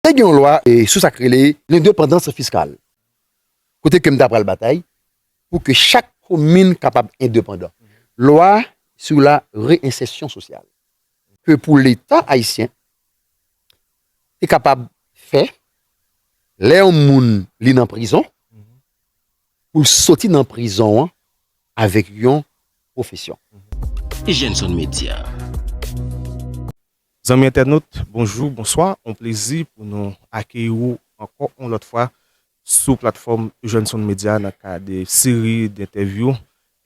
Te gen yon lwa sou sa k rele lendepandans fiskal, kote ke m ta pral batay pou ke chak komin kapab endepandan. Lwa sou la reyensèsyon sosyal, ke pou leta ayisyen te kapab fè, lè yon moun li nan prizon, pou l soti nan prizon an avèk yon pwofesyon. Jenson Media. Zanmi entènot, bonjou, bonswa, on plezi pou nou akeyi ou ankò on lòt fwa sou platfòm Eugène Son Média nan ka de seri dentèvyou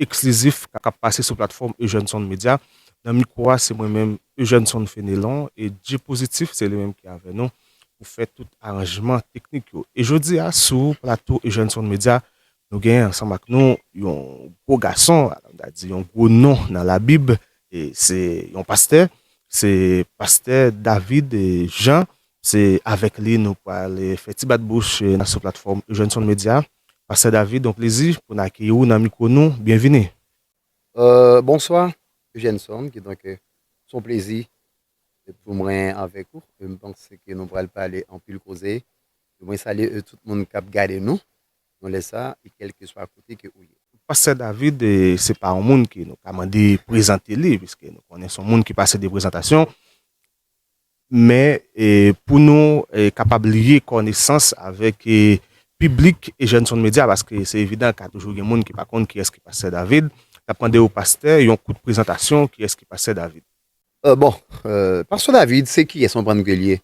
eksklizif kap pase sou platfòm Eugène Son Média. Nan mikwo a se mwen menm Eugène Son Fénélon e Djee Positif se li menm ki avè nou pou fè tout aranjman teknik yo. E jodi a sou plato Eugène Son Média Nou genyen ansanm ak nou yon gwo gason, m ta di yon gwo non nan Labib, e se yon pastè, se pastè David Jean, se avèk li nou pral fè ti bat bouch nan sou platfòm Eugenson Media. Pastè David, yon plezi pou n akeyi ou nan mikwo nou, byenvini. Bonswa Eugenson, kidonk s on plezi pou mwen avèk ou, e m panse ke nou pral pale anpil koze, mwen salye tout moun k ap gade nou, nan lè sa e kèlkeswa kote ke ou ye. Pastè David se pa yon moun ke nou ka mande prezante li, piske nou konnen son moun ki pase de prezantasyon, men pou nou kapab liye kònesans avèk piblik Jènson Medya, paske se evidan ka toujou gen moun ki pa konn kiyès ki Pastè David, nap mande ou pastè yon kout prezantasyon kiyès ki Pastè David. Bon, Pastè David se kiyès anprann ke li ye?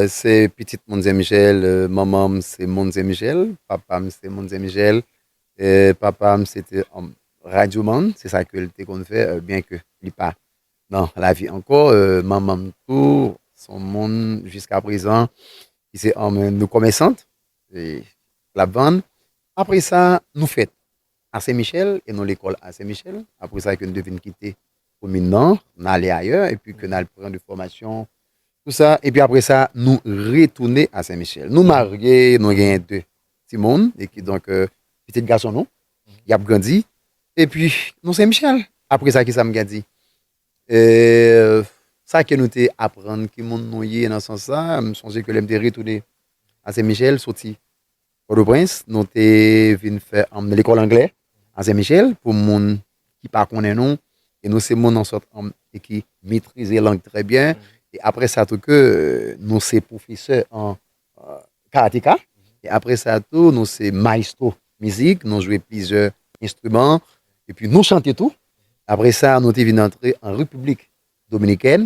Se pitit moun zemjel manman m se moun zemjel papa m se moun zemjel papa m se te yon radyo man se sa ke l te konn fè byen ke li pa nan lavi ankò manman m tou se yon moun jiska prezan ki se yon komèsant lap vann apresa nou fèt A Sen Michel e non lekòl A Sen Michel, apre sa ke n te vin kite komin nan, n ale ayè epi ke n al pran de fòmasyon pou sa epi apre sa nou retounen A Sen Michel. Nou marye, nou genyen de timoun e ki donk pitit gason nou y ap grandi epi nou Sen Michel. Apre sa kisa m gen di? Sa ke nou te aprann ki moun nou ye nan sans sa, m sonje ke lè m te retounen A Sen Michel soti Pòtoprens, nou te vin fè anm lekòl anglè a Sen Michel pou moun ki pa konnen nou e nou se moun an sòt anm e ki metrize lang trè byen e apre sa tou ke nou se pwofesè an karateka e apre sa tou nou se maestro mizik nou jwe plizyè enstriman e pi nou chante tou apre sa nou te vin antre an repiblik dominikèn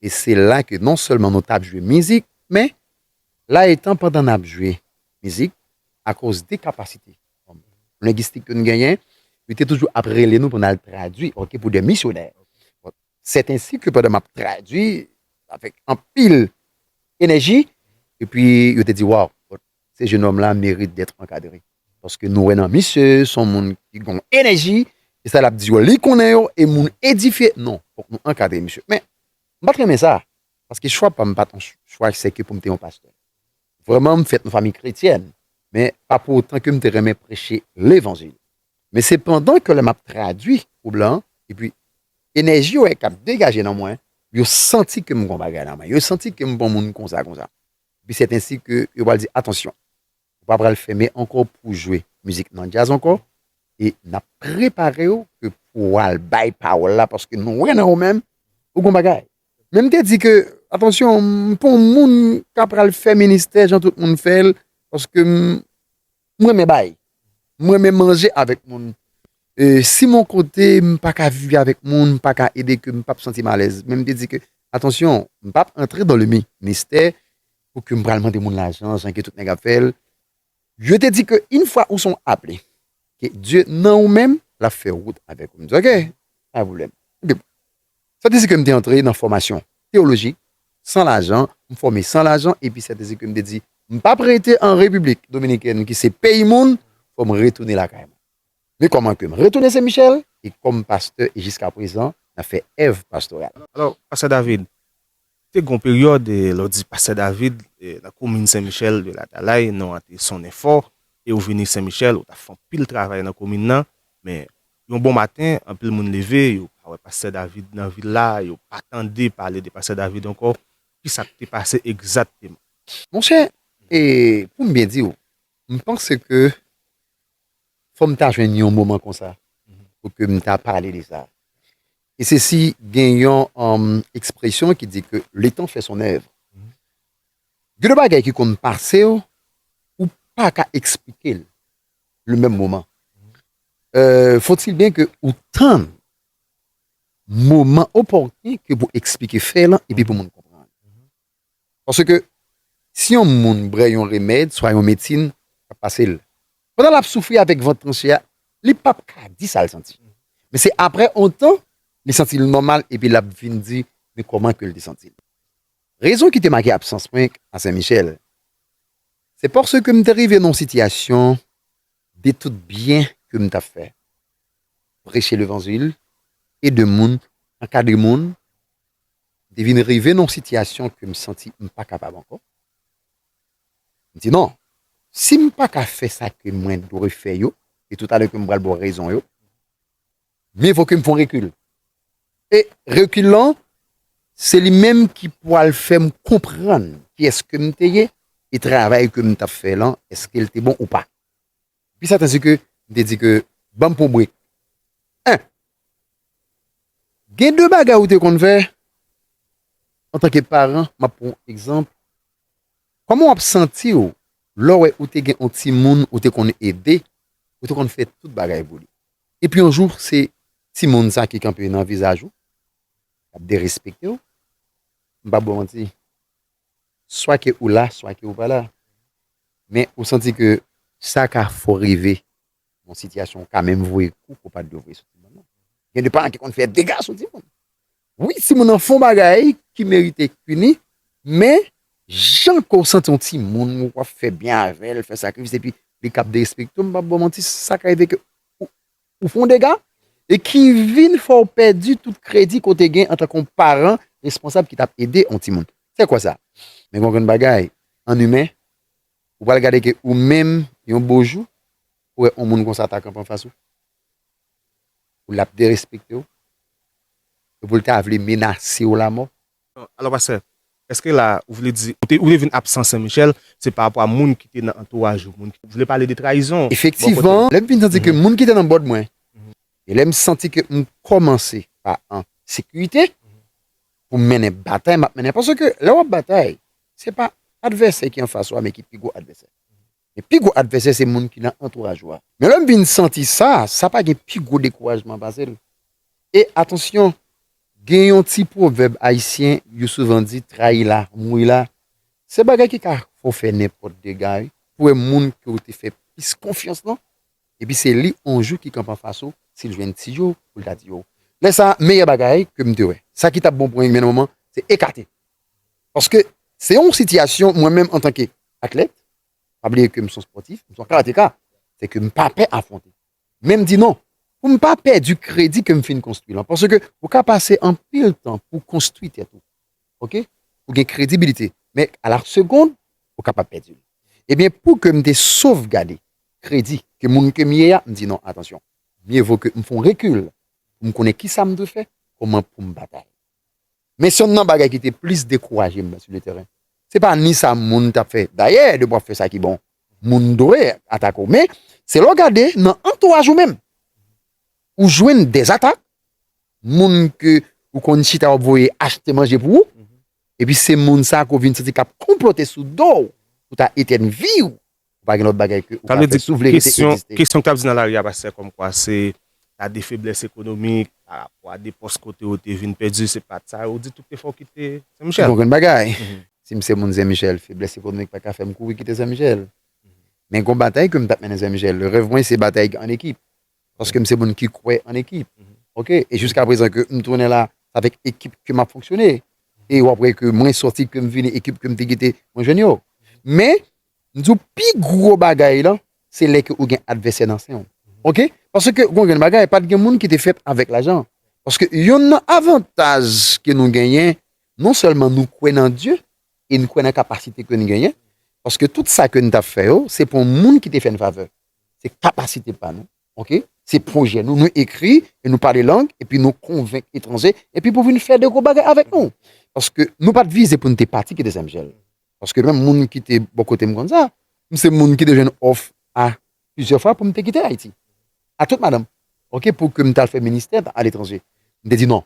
e se la ke non sèlman nou tap jwe mizik men La etan pandan n ap jwe mizik, akoz de kapasite lengistik ke nou genyen, yo te toujou ap rele nou pou n al tradui ok pou de misyonè. Sètensi ke pandan m ap tradui avèk anpil enèji, epi yo te di waw se jenòm la merite dèt ankadre paske nou wè nan misye se yon moun ki gen yon enèji e sa l ap di yo li konnen yo e moun edifye non fòk nou ankadre misye men M pat renmen sa, paske chwa pa m pat yon chwa se ke pou m te yon pastè. Vrèman m fèt nan fanmi kretyèn, men pa pou otan ke m te renmen preche levanjil. Men se pandan ke lè m ap tradui pou blan, epi enèji yo wè k ap degaje nan mwen, yo santi ke m gon bagay nan mwen, yo santi ke m pa yon moun konsa konsa. Epi sèt ensi ke yo pral di, atansyon! Ou pa pral fèmen ankò pouw jwe mizik nan djaz ankò e nap preparew ke pou wal bay pawòl la paske nou wè nan ou menm ou gon bagay. Men m te di ke atansyon m pa yon moun ka pral fè ministè jan tout moun fèl paske m renmen bay, m renmen manje avèk moun e si mon kote m pa ka viv avèk moun m pa ka ede ke m pap santim alèz men m te di ke atansyon m pap antre dan le ministè Pou ke m pral mande moun lajan jan ke tout nèg ap fè l. Yo te di ke yn fwa ou son aple, ke Dye nan ou menm, l ap fè wout avèk ou. M di ok, pa gen pwoblèm. Epi bon, sa te di ke m te antre nan fòmasyon teyolojik san lajan, m fòme san lajan, epi sa te di ke m te di m p ap rete an Repiblik Dominikèn ki se peyi moun, fò m retounen lakay mwen. Men kòman ke m retounen Sen Michèl, e kòm pastè e jiskaprezan n ap fè èv pastoral. Alò, pastè David, Te gen yon peryòd, lè w di Pastè David, nan komin Sen Michèl de Latalay, non an te sonnen fò, e ou vini Sen Michèl, ou t ap fè anpil travay nan komin nan, men, yon bon maten, anpil moun leve, yo pa wè Pastè David nan vil la, yo pa tande pale de Pastè David ankò, ki sa k te pase egzatteman? Monchè, e, pou m byen di w, m panse ke fò m ta jwenn yon moman konsa pou ke m ta pale de sa. E se si gen yon ekspresyon ki di ke le tan fè son èvre. Gen de bagay ki konn pase w, ou pa ka eksplike l le menm moman. Fòtil byen ke ou tann moman opòtni ke pou eksplike fè lan epi pou moun konprann. Paske, si yon moun brè yon remèd swa yon medsin k ap pase l pandan l ap soufri avèk vant tranche a, li pap ka di sa l santi. Men se aprè yon tan, li santi l nòmal epi l ap vin di men kòman ke l te santi l. Rezon ki te make absans mwen a Sen Michèl, se paske m te rive nan yon sitiyasyon de tout byen ke m t ap fè, preche levanjil, ede moun, ankadre moun, M te vin rive nan yon sitiyasyon ke m santi m pa kapab ankò. M di non, si m pa ka fè sa ke mwen dwe fè yo, e tout alè ke m pral ba w rezon yo, mye vo ke m fè yon rekil. E rekil lan, se li menm ki pwal fè m konprann kiyès ke m te ye, e travay ke m t ap fè lan, eske l te bon ou pa. Pi sèten si ke m te di ke ban m pou brik. 1, Gen de bagay ou te konn fè antanke paran, m ap pran yon egzanp, kòman w ap santi w lè w wè ou te gen yon timoun ou te konn ede, ou te konn fè tout bagay pou li, epi yon jou se timoun sa ki kanpe nan vizaj ou, l ap derespekte w, m p ap ba w manti. swa ke ou la swa ke ou pa la men ou santi ke sa ka fè w rive nan yon sitiyasyon ou ka menm voye kou ke w pa t dwe voye sou timoun nan gen de paran ki konn fè dega sou timoun wi timoun nan fè yon bagay ki merite pini men jan ke w santi yon timoun ou ap fè byen avè l fè sakrifis epi li kap derespekte w m pap ba w manti sa ka rive ke Ou fè yon dega e ki vin fè w pèdi tout kredi ke w te gen antan ke yon paran responsab ki t ap ede yon timoun. Se kwa sa? Men gen yon grenn bagay, an imen, ou pral gade ke ou menm, yon bo jou, ou wè yon moun konsa ta kanpe anfas ou, l ap derespekte w, epi l ta vle menase w lamò. Alò pastè, èske la a ou vle di ou te vin absan Sen Michèl se pa rapò a moun ki te nan antouraj ou, moun ki te vle pale de trayizon bò kote ou? Efektivman, lè m fin santi ke moun ki te nan bòd mwen e lè m santi ke m kòmanse pa an sekirite pou m mennen batay m ap mennen a, paske lè w ap batay se pa advèsè ki anfas ou a men ki pi gwo advèsè. Men pi gwo advèsè se moun ki nan antouraj ou a. Men lè m vin santi sa, sa pa gen pi gwo dekourajman pase l. E atansyon, gen yon ti pwovèb ayisyen yo souvan di trayi la, mouyi la. Se bagay ki ka fè w fè nenpòt dega wi. Pou wè moun ke w te fè plis konfyans lan, epi se li on jou ki kanpe anfas ou, si l jwenn ti yo pou l ta di yo. Lè sa, meyè bagay ke m te wè, sa ki t ap bon pou enn moman, se ekate. Paske se yon sitiyasyon mwen menm antanke atlèt, pa bliye ke m son spòtif, m son karateka, se ke m pa pè afwonte. Men m di non, pou m pa pèdi kredi ke m fin konstwi lan. Paske ou ka pase anpil tan pou w konstwi tèt ou. Ok? Pou gen kredibilite. Men a la segond, ou kapab pèdi l. Ebyen pou ke m te sovgade kredi ke moun ke m ye a, m di non, atansyon, mye vo ke m fon rekil pou m konnen kisa m dwe fè, kouman pou m batay. Men se yonn nan bagay ki te plis dekouraje m nan si le tèren. Se pa ni sa moun t ap fè. Dayè, depi w ap fè sa ki bon, moun dwe atake w. Men, se lè w gade nan antouraj ou menm, ou jwenn dè atak, moun ke ou konn chita w ap voye achte manje pou ou, epi se moun sa ke w vin santi k ap konplote sou do w pou ta etèn vi w. Ou pa gen lòt bagay ke ou ka fè si w vle rete egziste. Kesyon k ap di nan lari a pastè kòmkwa se ta de feblès ekonomik pa rapò a de pòs kote yo te vin pèdi se pa t sa yo di tout efò w kite Sen Michèl. Bon grenn bagay. Si m se moun Sen Michèl feblès ekonomik pa ka fè m kouri kite Sen Michèl. Men gon batay ke m t ap mennen Sen Michèl. Rèv mwen se batay an ekip. Paske m se moun ki kwè an ekip. Ok e jiska prezan ke m tounen la se avèk ekip ke m ap fonksyone e w ap wè ke mwen sòti ke m vini ekip ke m te kite mwen jwenn yo. Men M di w pi gwo bagay lan, se lè ke ou gen advèsè nan sen w. Ok? Paske gon grenn bagay, pat gen moun ki te fèt avèk lajan. Paske yonn nan avantaj ke nou genyen, non sèlman nou kwè nan Dye, e n kwè nan kapasite ke n genyen, paske tout sa ke n tap fè yo, se pou moun ki te fè n favè. Se kapasite pa nou. Ok? Se pwojè nou. Nou ekri, e nou pale lang, epi nou konvenk etranje, epi pou vin fè de gwo bagay avèk nou. Paske nou pat vize pou n te pati ki dezyèm syèl. Paske menm moun ki te bò kote m konn sa. M se moun ki te jwenn òf a plizyè fwa pou m te kite Ayiti. A tout madanm. Ok pou ke m ta al fè ministè a letranje. M te di non.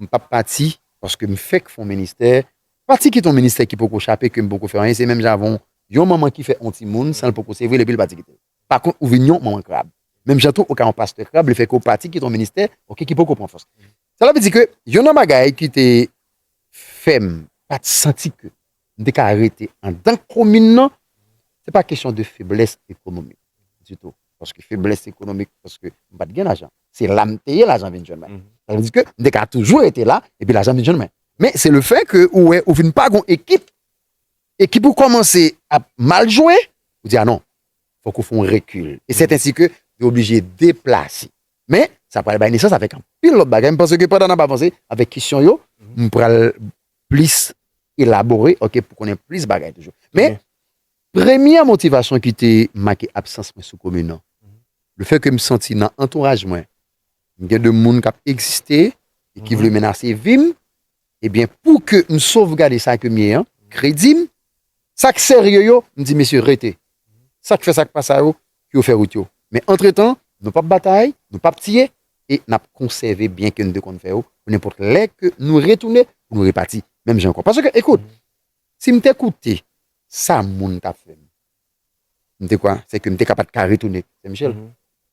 M pap pati paske m fèk fon ministè. Pati kite yon ministè ki poko chape ke m poko fè anyen se menm jan avè yon yon manman ki fè yon timoun san l poko sevre l epi l pati kite l. Pa kont ou vin yon manman krab. Menm jan tou ou ka yon pastè krab lefèke ou pati kite yon ministè ok ki poko pran fòs. Sela vle di ke yon nan bagay ki te fè m pa t santi ke m te ka rete andan komin nan, se pa kesyon de feblès ekonomik ditou, paske feblès ekonomik paske m pa t gen lajan, se la m te ye lajan vin jwenn mwen. Sa vle di ke m te ka toujou rete la epi lajan vin jwenn mwen. Men se le fè ke ou wè ou vin pa gon ekip, ekip ou kòmanse ap mal jwe, ou di a non, fòk ou fè yon rekil. E sèt ensi ke yo oblije deplase. Men, sa pral bay nesans avèk anpil lòt bagay. M panse ke pandan n ap avanse avèk kesyon yo, m pral plis elabore, ok, pou konnen plis bagay toujou. Men, premye motivasyon ki te make absans mwen sou komin nan, le fè ke m santi nan antouraj mwen, m gen de moun k ap egziste e ki vle menase vi m, Ebyen pou ke m sovgade sa ke m ye an, kredi m, sa k serye yo, m di mesye rete, sa k fè sa k pa sa yo, pou yo fè wout yo. Men antretan, nou p ap batay, nou p ap tiye, e n ap konsève byen ke n te konn fè yo, pou nenpòt lè ke nou retounen, pou nou repati menm jan ankò. Paske ekout, si m te koute sa moun t ap fè m, M te kwè se ke m te ka pa t ka retounen Senmichèl.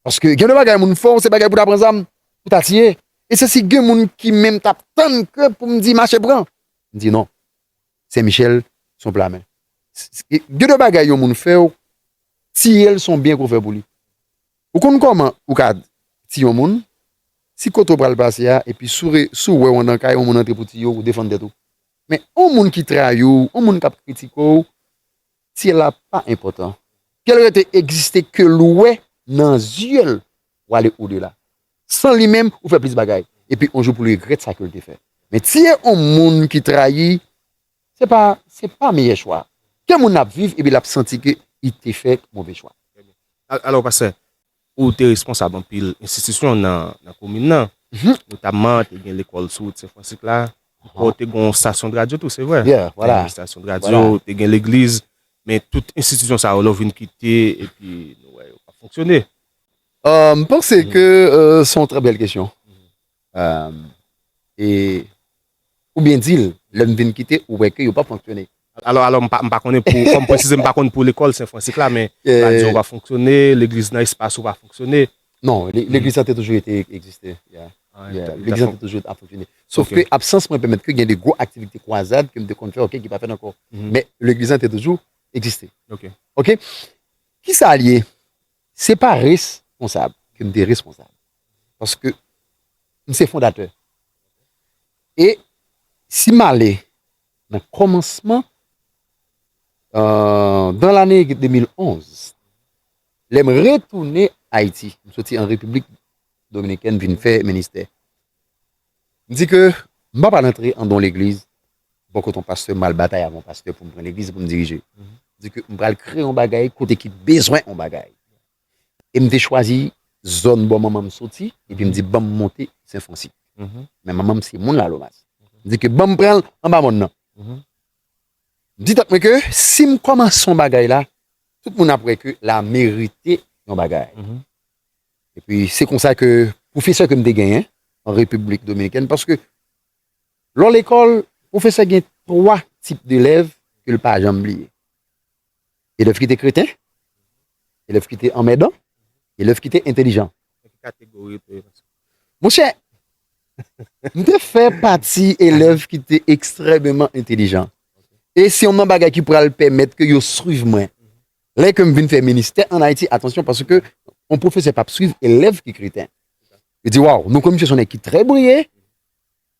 Paske gen de bagay moun fè w se bagay pou ta pran zam, pou ta tiye. E se si gen moun ki menm t ap tann ke pou m di mache pran. M di non. Senmichèl se yon pla men. Gen de bagay yon moun fè w, tiye l se yon byen ke w fè pou li. Ou konn kòman ou ka tiye yon moun, si kote ou pral pase a epi si w wè yon nan kay yon moun antre pou tiye w, ou defann tèt ou. Men yon moun ki trayi w, yon moun k ap kritike w, Syèl la pa enpòtan. Ke l rete egziste ke l wè nan zye l w ale odela. San li menm ou fè plis bagay. Epi on jou pou l regrèt sa ke l te fè. Men tiye on moun ki trayi se pa se pa meyè chwa. Ke moun ap viv epi l ap santi ke li te fè move chwa. Alò pastè, Ou te responsab anpil enstitisyon nan komin nan, notamman te gen lekòl sou wout Sen Fransik la, ou te gen yon stasyon radyo tou, se vre? Byen, wala. Te gen stasyon radyo, te gen legliz, men tout enstitisyon sa yo lè w vin kite epi nou wè yo pa fonksyone. M panse ke se yon trè bèl kesyon. E. Ou byen dil, lè m vin kite ou wè ke yo pap fonksyone. Alò alò m pa m pa konnen pou kòm presize m pa konn pou lekòl Sen Fransik la men radyo a pa fonksyone, legliz nan espas ou pa fonksyone. Non, legliz lan te toujou rete egziste ya. Legliz lan te toujou ap fonksyone. Sof ke absans mwen pèmèt ke gen de gwo aktivite kwazad ke m te konn fè ok ki pa fèt ankò. Men legliz lan te toujou egziste. Ok. Ok. Kisa l ye? Se pa responsab ke m te responsab. paske m se fondatè e si m ale nan kòmansman dan lane 2011 lè m retounen Ayiti m soti an Repiblik Dominikèn vin fè ministè m di ke m pa pral antre andan yon legliz bò kote yon pastè m al batay avèk yon pastè pou m pran legliz pou m dirije m di ke m pral kreye yon bagay kote ki bezwen yon bagay. e m te chwazi zòn bò manman m soti epi m di ban m monte Sen Fransi. Men manman m se moun Lalomas. M di ke ban m pran l anba mòn nan. M di tèt mwen ke si m kòmanse yon bagay la, tout moun ap wè ke la merite yon bagay. Epi se konsa ke pwofesè ke m te genyen an Repiblik Dominikèn, paske lè w lekòl, pwofesè gen twa tip delèv ke l pa janm bliye. Elèv ki te kreten, elèv ki te anmèdan, elèv ki te entelijan. Nan ki kategori ou te ye konsa? Monchè, m te fè pati elèv ki te ekstrèmeman entelijan. E se yon nan bagay ki pral pèmèt ke yo swiv mwen. Lè ke m vin fè ministè an Ayiti, atansyon, paske yon pwofesè pap swiv elèv ki kreten. Yo di, waw, nou konnen misye se yon nèg ki trè briye.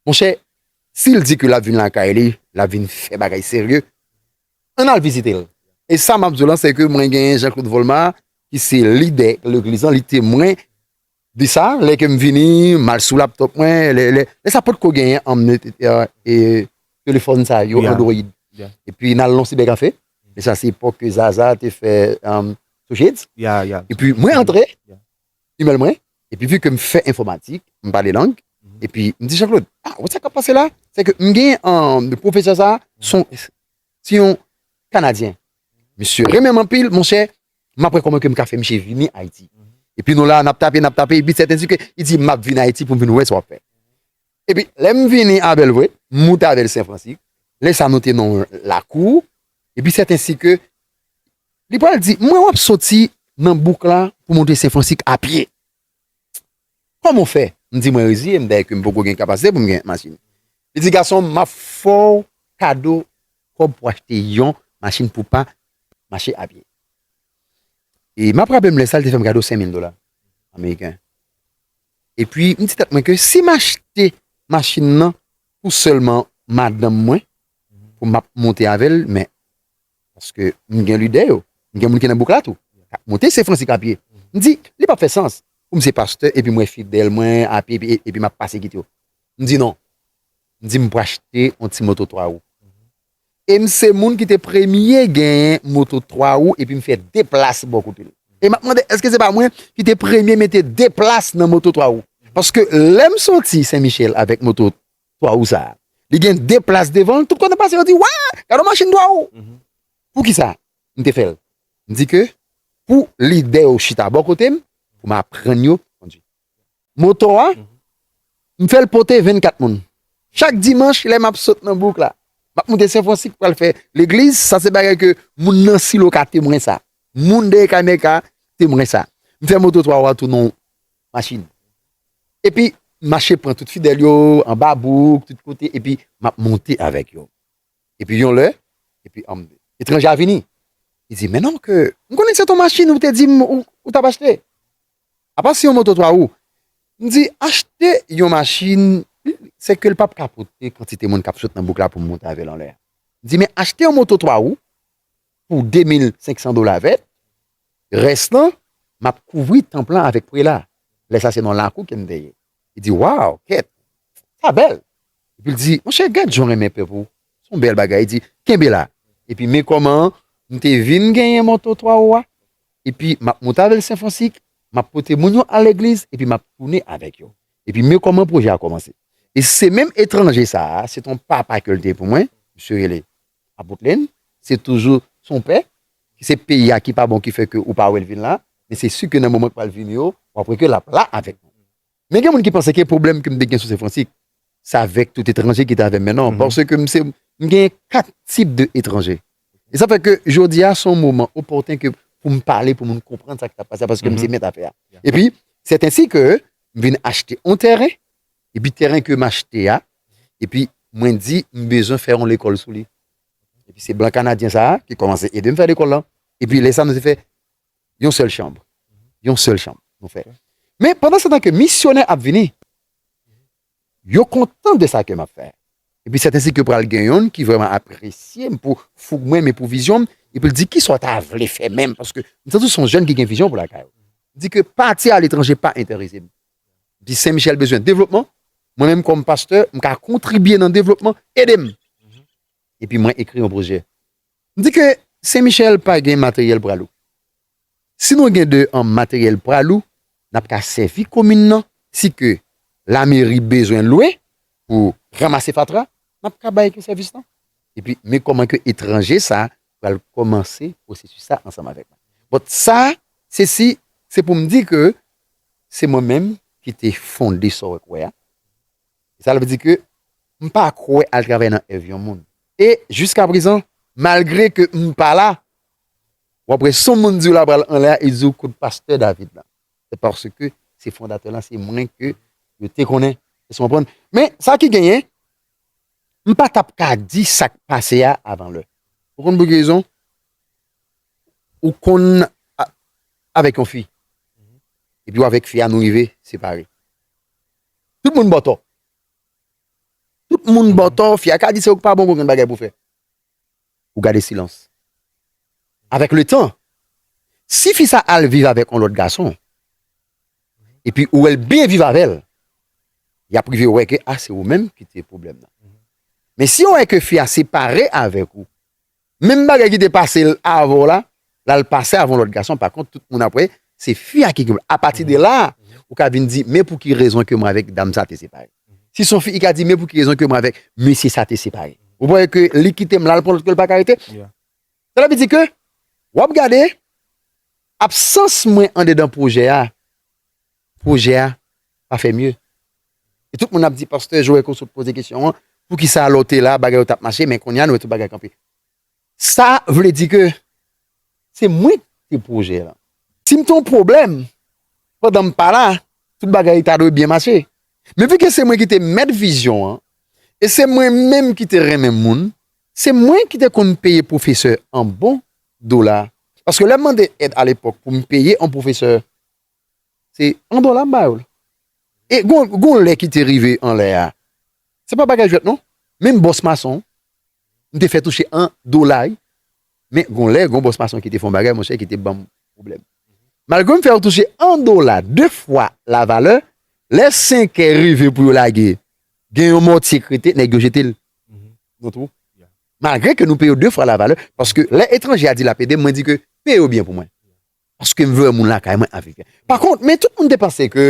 Monchè, si l di ke l ap vin lakay li, l ap vin fè bagay serye. Ann al vizite l. E sa m ap di w lan se ke mwen genyen Jean Claude Volma ki se lidè legliz lan, li temwen de sa, lè ke m vini, m al sou laptop mwen, lè sa pot ko genyen an m telefòn sa yo android. E pi n al nan sibè kafe, e sa se epòk ke Zaza te fè Sojets, e pi mwen antre. imèl mwen, epi vi ke m fè enfòmatik, m pale lang, epi m di Janklod, a, wè sa k ap pase la? Se ke m gen anm pwofesè sa a, se yon, se yon Kanadyen. Misye renmen m anpil, monchè, m ap wè kòman ke m ka fè miche vini Ayiti. Epi nou la, n ap tape, n ap tape, epi sèten di ke, li di, m ap vini Ayiti pou m vin wè sa w ap fè. Epi lè m vini a Bèlvwe, m moute avè l Senfransi, lè sa a nou te nan yon lakou, epi sèten si ke Li pral di, m wè wap soti nan bouk la pou monte Sen Fransik a pye. Kòman w fè? M di mwen reziye m dèyè ke m poko gen kapasite pou m gen machin. Li di, gason m, m ap fè w kado kòb pou achte yon machin pou w pa mache a pye. E m ap raple m lè sa li te fè m kado senmil dola ameriken. E pi m di tèt mwen ke si m achte machin nan pou sèlman madanm mwen pou m ap monte avè l men. Paske m gen lide yo. M gen moun ki nan bouk la tou. K ap monte se Fransi k ap ye. M di, li p ap fè sans pou m se pastè epi mwen fidèl mwen api epi m ap pase kit yo. M di non. M di m pou achte yon ti moto 3 wou. E m se moun ki te premye genyen moto 3 wou epi m fè 2 plas bò kote l. E m ap mande èske se pa mwen ki te premye mete 2 plas nan moto 3 wou. Paske lè m soti Sen Michèl avèk moto 3 wou sa a. Li gen 2 plas devan l, tout kote m pase yo di, wè, gad yon machin 3 wou. Pou ki sa m te fè l? M di ke pou lidè yo chita bò kote m, pou m aprann yo kondwi. Moto a, m fè l pote 24 moun. Chak dimanch lè m ap sot nan bouk la, m ap moute Senfransik pou al fè legliz, sa se bagay ke moun nan Silo ka temwen sa. Moun dèyè Kanè ka temwen sa. M fè moto 3 wou a tounen yon machin. Epi m mache pran tout fidèl yo, anba bouk, tout kote, epi m ap monte avèk yo. Epi yon lè, epi anm, etranje a vini. Li di, Mennonm ke, m konnen se ton machin ou te di m ou t ap achte. Apa se yon moto twa wou? M di, Achte yon machin, se ke l p ap ka pote kantite moun k ap sot nan bouk la pou m monte avè l anlè. M di, Men achte yon moto twa wou, pou 2500 dola vèt, rès lan map kouvri tanp lan avèk prela, lè sa se nan lakou kem te ye, li di waw kèt sa bèl, epi li di monchè gad jan w renmen pèp ou, son bèl bagay, li di kenbe la, epi men kòman m te vin genyen manto 3 oa, epi map moute avèl senfonsik, map pote moun yo al legliz epi map tounen avèk yo, epi men kòman pwojè a kòmanse, e se menm etranje sa, se ton papa kel te pou mwen, misye rele Apot Lynn, se toujou son pè, se peyi a ki pa bon ki fè ke ou pa wè l vin la, men se si ke nan moman k pral vini yo, w ap wè ke l ap la avèk nou. Men gen moun ki panse ke pwoblèm ke m te gen sou Sen Fransik, se avèk tout etranje ki te avè m, men non, paske m se, m gen 4 tip de etranje. E sa fè ke jodi a son moman opòten ke pou m pale, pou moun konprann sa ki t ap pase a, paske m se mèt afè a. E pi, sèt ensi ke m vin achte on tèren, Epi tèren ke m achte a, epi mwen di m bezwen fè yon lekòl sou li. Epi se blan kanadyen sa a ki kòmanse ede m fè lekòl lan. Epi lè sa nou te fè yon sèl chanm. Yon sèl chanm nou fè. Men pandan se tan ke misyonè ap vini, yo kontan de sa ke m ap fè. Epi sètensi ke pral gen yonn ki vrèman apresye m pou foug mwen men pou vizyon m. Epi l di, ki sa w ta vle fè menm? Paske m santi w se yon jèn ki gen vizyon pou lakay ou. M di ke pati aletranje pa enterese m. di Sen Michel bezwen devlopman, mwen menm kòm pastè, m ka kontribye nan devlopman, ede m. Epi mwen ekri yon pwojè. M di ke Sen Michel pa gen materyèl pralou. Si nou gen de an materyèl pralou, n ap ka sèvi komin nan, si ke lameri bezwen lwe pou ranmase fatra, n ap ka bay ke sèvis lan. Epi men kòman ke etranje sa pral kòmanse pwosesis sa ansanm avèk mwen. Bon, sa, se si, se pou m di ke se mwen menm ki te fonde sa w wè k wè a. Sa vle di ke m pa kwè al travay nan èv yon moun. E jiskaprezan, malgre ke m pa la, w ap wè si yon moun di w la pral anlè a, e di w kot pastè David la. Se paske se fondatè lan, se mwen ke yo te konnen. Èske w konprann? Men, sa ki genyen, M pa tap ka di sa k pase a avan lè. Ou konn pou ki rezon? Ou konn avèk yon fi, epi ou avèk fi a nou rive separe. Tout moun ba w tò. Tout moun ba w tò, fi a ka di se ou k pa bon, ou pa gen bagay pou w fè. ou gade silans avèk le tan si fi sa al viv avèk yon lòt gason epi ou wèl byen viv avèl yap rive wè ke a se ou menm ki te pwoblèm nan men si yo wè ke fi a separe avèk ou menm bagay ki te pasel avèw la lal pase avon lot gason pa kont tout moun ap wè se fi a ki knprann apati de la ou ka vin di men pouki rezon ke mwen avek dam sa te separe si son fi li ka di men pouki rezon ke mwen avek mesye sa te separe ou wè ke li kitem lal pran lot kel paka rete sa la vle di ke wap gade absans mwen andedan pwojè a pwojè a pa fè mye e tout moun ap di pastè joel ke w sot poze kesyon an poukisa lè w te la bagay yo tap mache men kounye a nou wè tout bagay kanpe. Sa vle di ke se mwen ki te pwojè lan. Si m te yon pwoblèm pandan m pa la, tout bagay ta dwe byen mache. Men vike se mwen ki te mèt vizyon an e se mwen menm ki te renmen moun, se mwen ki te konn peye pwofesè an bon dola paske lè m mande èd alepòk pou m peye yon pwofesè Se an dola m ba yo l. E gon lè ki te rive an lè a, se pa bagay jwèt non, menm bòs mason, m te fè touche an dola wi, men gon lè gon bòs mason ki te fè yon bagay monchè ki te ban m pwoblèm. Malgre m fè yo touche an dola de fwa lavalè, lè senkè rive pou yo lage, gen yon mòtye krete, nèg yo jete l nan twou. Malgre ke nou peye yo de fwa lavalè, paske lè etranje a di l ap ede m, mwen di ke peye yo byen pou mwen. Paske m vle wè moun lakay mwen avèk yo. Pa kont, men tout moun te panse ke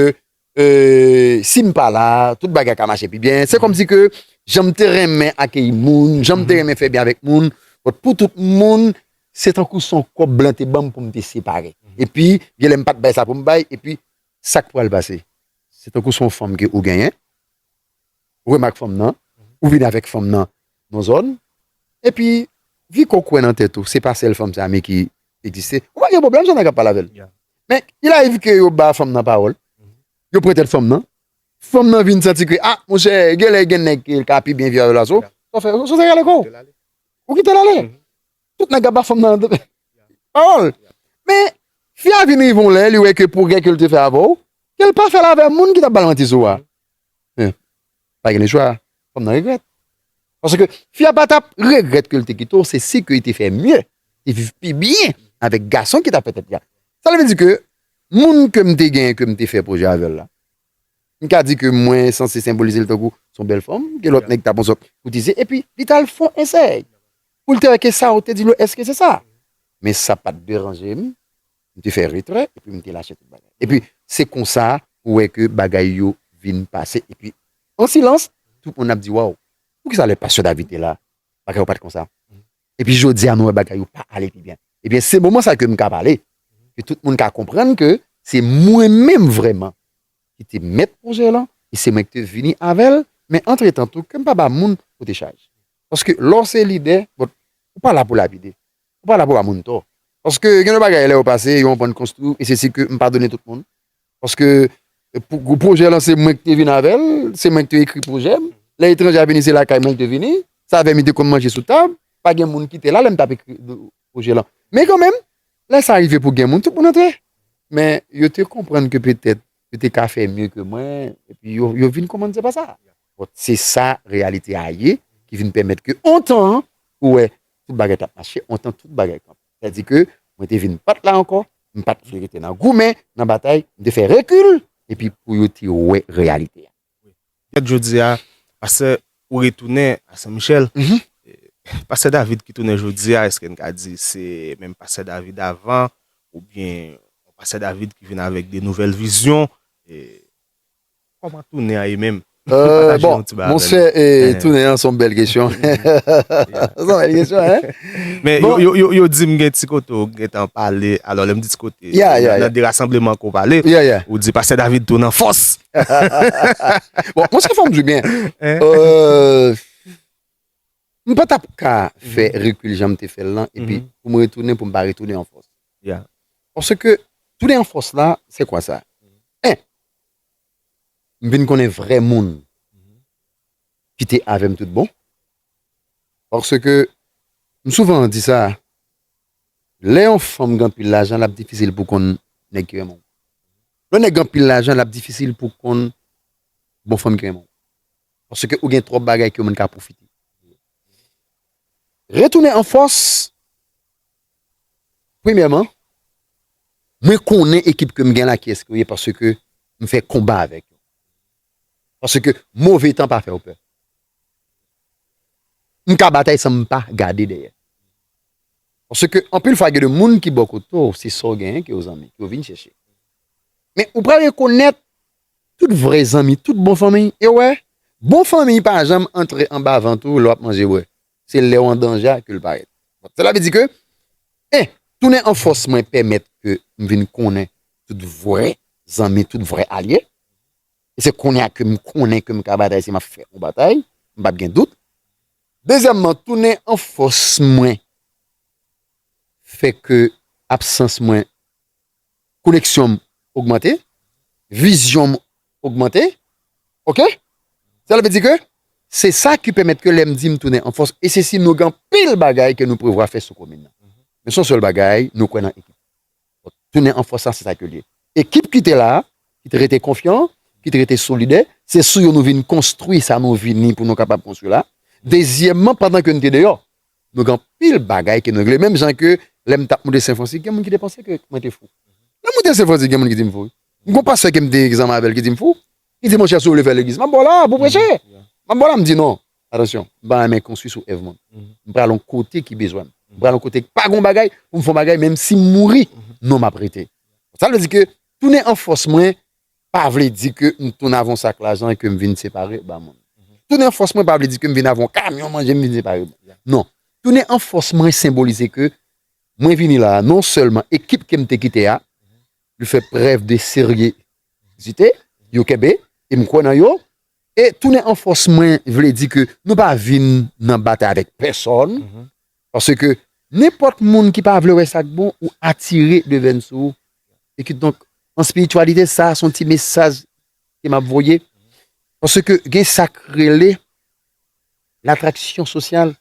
si m pa la, tout bagay ka mache pi byen. Se kòmsi ke jan m te renmen akeyi moun, jan m te renmen fè byen avèk moun, bòt pou tout moun, se tankou se yon kòb blan te ban m pou m te separe. Epi, gen lè m pa t bay sa pou m bay, epi sa k pral pase? Se tankou se yon fanm ke ou genyen, remak fanm nan, ou vin avèk fanm nan non zòn, epi Viko kwè nan tèt ou, se pa sèl fanm sa me ki egziste, ou pa gen pwoblèm sa nèg ap pale avèl. Men, il arive ke yo ba fanm nan pawòl, yo pran tèt fanm nan, fanm nan vin santi ke, ah, monchè, genlè gen nèg ki ka pi byen viv avèl pase w, sa w fè, sa w se rale kò w, ou kite l ale. Tout nèg ap ba fanm nan pawòl. Men, fi a vin rive yon lè, li wè ke pwogrè ke l te fè avè w, ke l pa fè l avè moun ki t ap ba l manti sou a. Men, pa gen lechwa, fanm nan regrèt. Paske, fi a pa t ap regrèt ke l te kite w, se si ke li te fè mye, li viv pi byen avèk gason ki t ap fè tèt li a. Sa vle di ke, moun ke m te gen, ke m te fè pwojè avè l la, M ka di ke mwen sanse senbolize l tankou s on bèl fanm ke lòt nèg ta pran sòt pou tizye epi li t al fon esèy pou l te wè ke sa w te di l yo èske se sa. Men sa pa t deranje m, m te fè retrè epi m te lache tout bagay. Epi se konsa ou wè ke bagay yo vin pase epi an silans tout moun ap di waw poukisa lè pastè David te la bagay yo pa t konsa. Epi jodi a nou wè bagay yo pa ale pi byen. Ebyen se moman sa ke m ka pale, ke tout moun ka konprann ke se mwen menm vrèman ki te mèt pwojè lan, e se mwen ki te vini avè l, men antretan tou ke m pa ba moun pote chaj. Paske lè w se lidè, bon, ou pa la pou lapide, ou pa la pou ba moun tò. Paske gen yon bagay lè yo pase, yo anprann konstwi w, e se si ke m padone tout moun, Paske pou pwojè lan se mwen ki te vin avè l, se mwen ki te ekri pwojè m. Lè etranje a vini se lakay mwen li te vini. Sa avè m li te konn manje sou tab. Pa gen moun ki te la lè m t ap ekri pwojè lan. Men kanmenm, lè sa rive pou gen moun, tout moun antre. Men yo te konprann ke petèt yo te ka fè mye ke mwen epi yo vin konprann se pa sa. Bon, se sa reyalite a ye ki vin pèmèt ke ontan ou wè tout bagay t ap mache, ontan tout bagay kanpe. Sa di ke mwen te vin pat la ankò, m pat vle rete nan goumen, nan batay, m te fè rekil epi pou yo te wè reyalite a. Jwèt jodi a, pastè ou retounen a Sen Michèl, pastè David ki tounen jodi a eske n ka di se menm pastè David avan oubyen yon pastè David ki vin avèk de nouvèl vizyon? Koman tounen an ye menm? Bon, monsè tounen an son bèl kesyon. Son bèl kesyon, hein? Men, yo di m gen ti kote ou gen tan pale, alò lè m di ti kote, nan de rasanbleman ke ou pale, ou di pastè David tounen an fòs. Bon, monsè fò m di w byen, m pa t ap ka fè rekil jan m te fè l lan epi pou m retounen pou m pa retounen an fòs. Paske tounen an fòs la, se kwa sa? 1, M vin konnen vrè moun ki te avè m tout bon. Paske, m souvan di sa, lè yon fanm gen anpil lajan l ap difisil pou konn nèg ki renmen w. Lè yon nèg gen anpil lajan l ap difisil pou konn bon fanm ki renmen w. Paske ou gen twòp bagay ke moun ka pwofite. Retounen an fòs Premyèman, mwen konnen ekip ke m gen la ki eske yo ye paske m fè konba avèk yo. Paske move tan pa fè w pè. M ka batay san m pa gade dèyè. Paske anpil fwa gen de moun ki bò kote w se sa w genyen ki yo zanmi, ki yo vin chèche. Men ou pral rekonèt tout vrè zanmi, tout bon fanmi. E w wè, bon fanmi pa janm antre anba vant ou lè w ap manje bwè. Se lè w an danje a ke l parèt. Sela vle di ke, 1. Tounen an fòs mwen pèmèt ke m vin konnen tout vrè zanmi, tout vrè alye. E se kounye a ke m konnen ke m ka batay si m ap fè yon batay, m pa p gen dout. Dezyèmman, tounen an fòs mwen fè ke absans mwen koneksyon m ogmante, vizyon m ogmante ok sa vle di ke se sa ki pèmèt ke lèm di m tounen an fòs e se si nou gen anpil bagay ke nou prevwa fè sou komin nan men son sèl bagay nou kwè nan ekip la tounen an fòs sa se sa ke liye ekip ki te la ki te rete konfyan ki te rete solidè se sou yo nou vin konstwi sa nou vini pou nou kapab konstwi la dezyèmman pandan ke nou te deyò Nou gen anpil bagay ke nou regle menm jan ke lè m tap moute Sen Francis gen moun ki te panse ke mwen te fou. Lè m moute Sen Francis gen moun ki di m fou wi. M gen yon pastè ke m te egzamen avè l ki di m fou. Li di monchè si w vle fè legliz map ba w la pou w preche. Map ba w la m di non. Atansyon, m pa renmen konstwi sou èv moun. M pral yon kote ki bezwen m. M pral yon kote k pa gen yon bagay pou m fè yon bagay menm si m mouri non map rete. Sa vle di ke tounen an fòs mwen pa vle di ke m tounen avèk yon sak lajan e ke m vin separe ba moun. Tounen an fòs mwen pa vle di ke m vin avèk yon kamyon manje m vin separe ba moun. Non. Tounen an fòs mwen senbolize ke mwen vini la a non sèlman ekip ke m te kite a yo fè prèv de seryezite, yo kenbe e m kwè nan yo e tounen an fòs mwen vle di ke nou pa vin nan batay avèk pèsòn Paske, nenpòt moun ki pa vle wè sa k bon, ou atire devèn sou ou. E kidonk, an espirityalite, sa a se yon ti mesaj ke m ap voye. Paske, gen sa k rele latraksyon sosyal.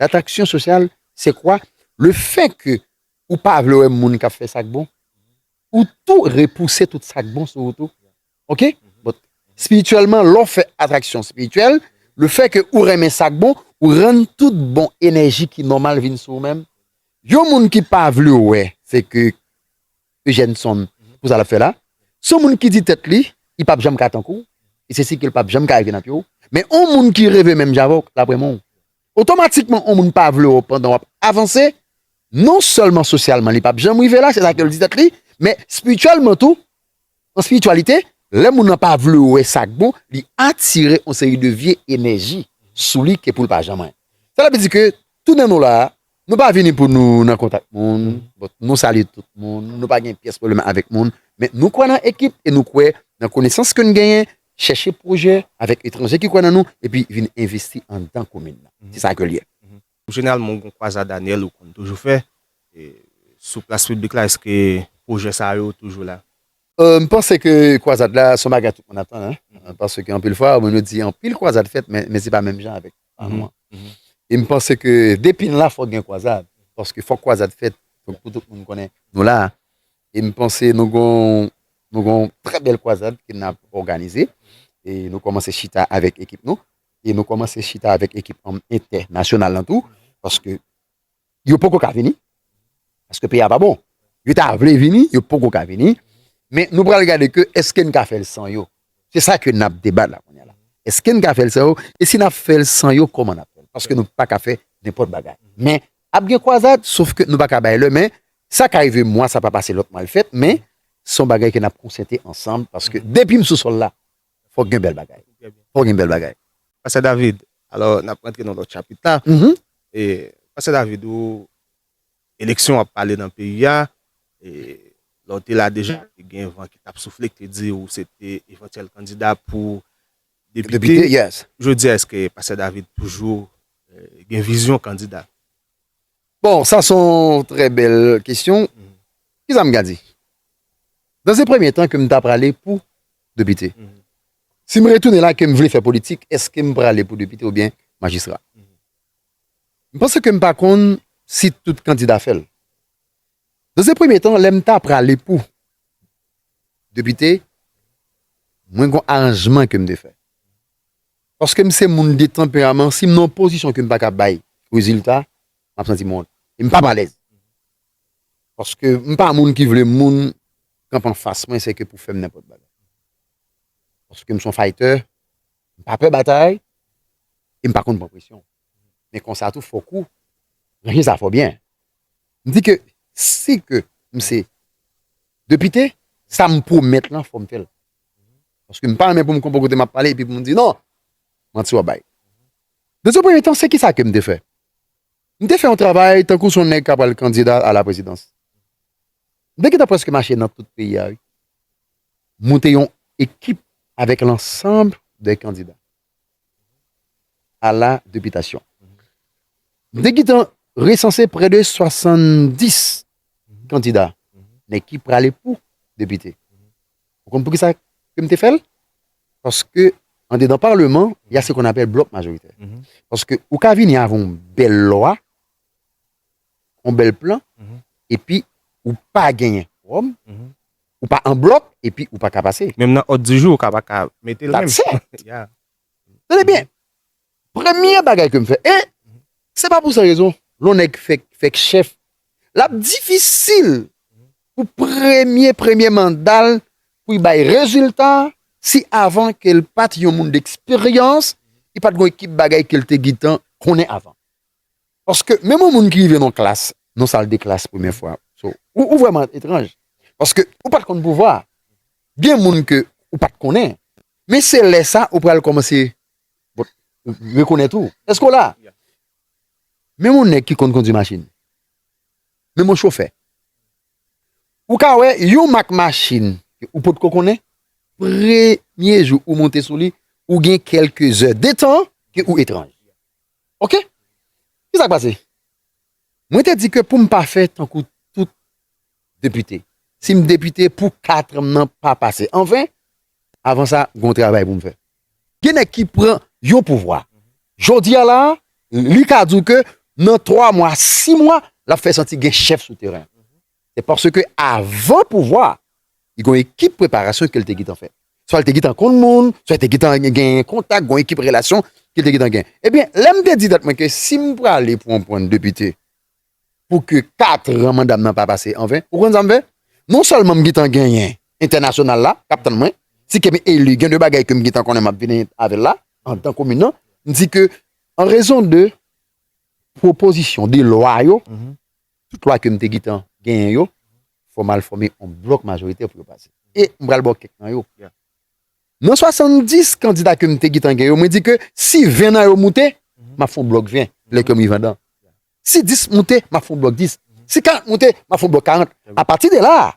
Latraksyon sosyal, se kwa? Le fè ke ou pa vle wè moun k ap fè sa k bon, ou tou repouse tout sa k bon sou ou tou. Ok but spirityèlman lè w fè atraksyon spirityèl le fè ke ou renmen sa k bon ou rann tout bon enèji ki nòmal vin sou ou menm. Yon moun ki pa vle wè se ke Eugenson pou sa l ap fè la se yon moun ki di tèt li li p ap janm ka tankou w e se si ke l p ap janm ka rive nan pye w men yon moun ki reve menm jan avè w l ap renmen w Otomatikman on moun pa vle w pandan wap avanse, non sèlman sosyalman li pap janm rive la, se sa ke l di tèt li, men spirityèlman tou, nan spirityalite, lè moun nan pa vle w wè sa k bon, li atire on seri de vye enèji sou li ke pou l pa janm anyen. Sa ta vle di ke tout nan nou la a, nou pa vini pou nou nan kontak moun, nou salye tout moun, nou pa gen pyès pwoblèm avèk moun, men nou kwè nan ekip e nou kwè nan konesans ke n genyen, chèche pwojè avèk etranje ki kwè nan nou epi vin envesti anndan komin nan. Se sa ke l ye. Jeneralman ou gen yon kwazad anyèl ou konn toujou fè sou plas piblik la, èske pwojè sa yo toujou la? M panse ke kwazad la se yon bagay tout moun ap tann paske anpil fwa moun yo di anpil kwazad fèt men se pa menm jan avèk pa nou an. E m panse ke depi n la fòk gen kwazad paske fòk kwazad fèt pou tout moun konnen nou la. E m panse nou gon nou gon trè bèl kwazad ke n ap òganize. E nou kòmanse chita avèk ekip nou. E nou kòmanse chita avèk ekip an entè nasyonal lan tou. Paske yo poko ka vini. Paske peyi a pa bon. Yo ta vle vini, yo poko ka vini. Men nou pral gade ke eske n ka fè l san yo. Se sa ke n ap debat la kounya la. Eske n ka fè l san yo? E si n ap fè l san yo, kòman n ap fè l? Paske nou pa ka fè nenpòt bagay. Men ap gen kwazad, sof ke nou pa ka bay lè. Men Sa ka rive mwa sa pa pase lòt mwa l fèt men son bagay ke nap konsyante ansanm paske depim sou sòl la fòk gen bèl bagay fòk gen bèl bagay. Pastè David, alò nap rantre nan lòt chapit la, Pastè David ou eleksyon ap pale nan peyi a, lè ou te la deja te gen van ki tap soufle ki te di ou se te evantyèl kandida pou depite, jodi a eske Pastè David toujou gen vizyon kandida? Bon, sa son trè bèl kesyon. Kisa m ka di? Nan se premye tan ke m ta prale pou depite. Si m retounen la ke m vle fè politik, eske m prale pou depite oubyen majistra? M panse ke m pa konn si tout kandida fè l. Nan se premye tan, lè m ta prale pou depite, mwen gon aranjman ke m te fè. Paske m se moun de tanperaman, si m nan yon pozisyon ke m pa ka bay rezilta, m ap santi m wont. E m p ap alèz. Paske m pa moun ki vle moun kanpe anfas mwen se ke pou fè m nenpòt bagay. Paske m se yon faytè, m pa pè batay, e m pa konn pran presyon. Men konsa tou fòk ou ranje sa fò byen. M di ke si ke m se depite, sa m pwomèt lan fò m fè l. Paske m pa renmen pou m konpon kote m ap pale epi pou m di non, manti w ap bay. Dans un premier temps, se kisa ke m te fè? M te fè yon travay tankou se yon nèg k ap pral kandida a la prezidans. M te gentan prèske mache nan tout peyi a wi. Moute yon ekip avèk lansanb de kandida a la depitasyon. M te gentan resanse prè de 70 kandida men ki prale pou depite. Ou konn poukisa ke m te fè l? Paske andedan Parleman, ya se kon apèl blòk majoritè. Paske ou ka vini avè yon bèl lwa, yon bèl plan, epi ou pa genyen kowòm, ou pa an blòk, epi ou pa ka pase. Menm nan òd di jou ou ka pa ka mete l menm. That's it! Tande byen! Premye bagay ke m fè e se pa pou san rezon lè yon nèg fèk chèf l ap difisil pou premye premye manda l pou li bay rezilta si avan ke l pa t yon moun deksperyans li pa t gen yon ekip bagay ke l te gentan konnen avan. Paske menm yon moun ki rive nan yon klas nan yon sal de klas premye fwa ou vrèman etranj paske ou pa t konn pouvwa a gen moun ke ou pa t konnen men se lè sa ou pral kòmanse Rekonèt ou? Èske w la? Menm yon nèg ki konn kondi machin. Menm yon chofè. Ou ka wè yon mak machin ou pot ko konnen, premye jou ou monte sou li, ou gen kelke zè de tan ke ou etranj. Ok? Ki sa k pase? Mwen te di ke pou m pa fè tankou tout depite. Si m depite pou 4 an m nan pa pase anven, avan sa, gen yon travay pou m fè. Gen nèg ki pran yon pouvwa. Jodi a la, li ka di w ke nan 3 mwa, 6 mwa, l ap fè santi gen chèf sou teren. Se paske avan pouvwa, li gen yon ekip preparasyon ke l te gentan fè. Swa l te gentan konn moun, swa l te gentan gen yon kontak, gen yon ekip relasyon ke l te gentan gen. Ebyen, lè m te di tèt mwen ke si m prale pou yon pwen depite, pou ke 4 ran manda m nan pa pase an ven. Ou konn sa m fè? Non sèlman m gentan genyen entènasyonal la k ap tann mwen, si ke m eli gen de bagay ke m gentan konnen m ap vini avè l la anndan komin nan, m di ke an rezon de pwopozisyon de lwa yo, tout lwa ke m te gentan genyen yo, fò m al fòme yon blòk majoritè pou yo pase. E m pral ba w kèk nan yo. Nan 70 kandida ke m te gitan gen yo, mwen di ke si 20 nan yo moute, m ap fè yon blòk 20, lè kè m rive andan. Si 10 moute, m ap fè yon blòk 10. Si 40 moute, m ap fè yon blòk 40. A pati de la a,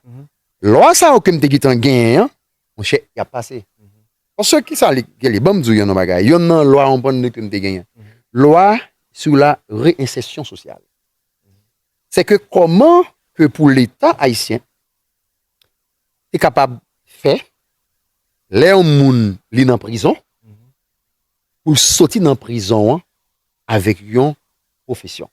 lwa sa yo ke m te gitan genyen an, monchè, y ap pase. Paske ki sa li rele? Ban m di w yonn nan bagay, yonn nan lwa anbann de ke m te genyen. Lwa sou la reyensèsyon sosyal. Sè ke kòman ke pou Leta ayisyen te kapab fè lè yon moun li nan prizon pou l soti nan prizon an avèk yon pwofesyon.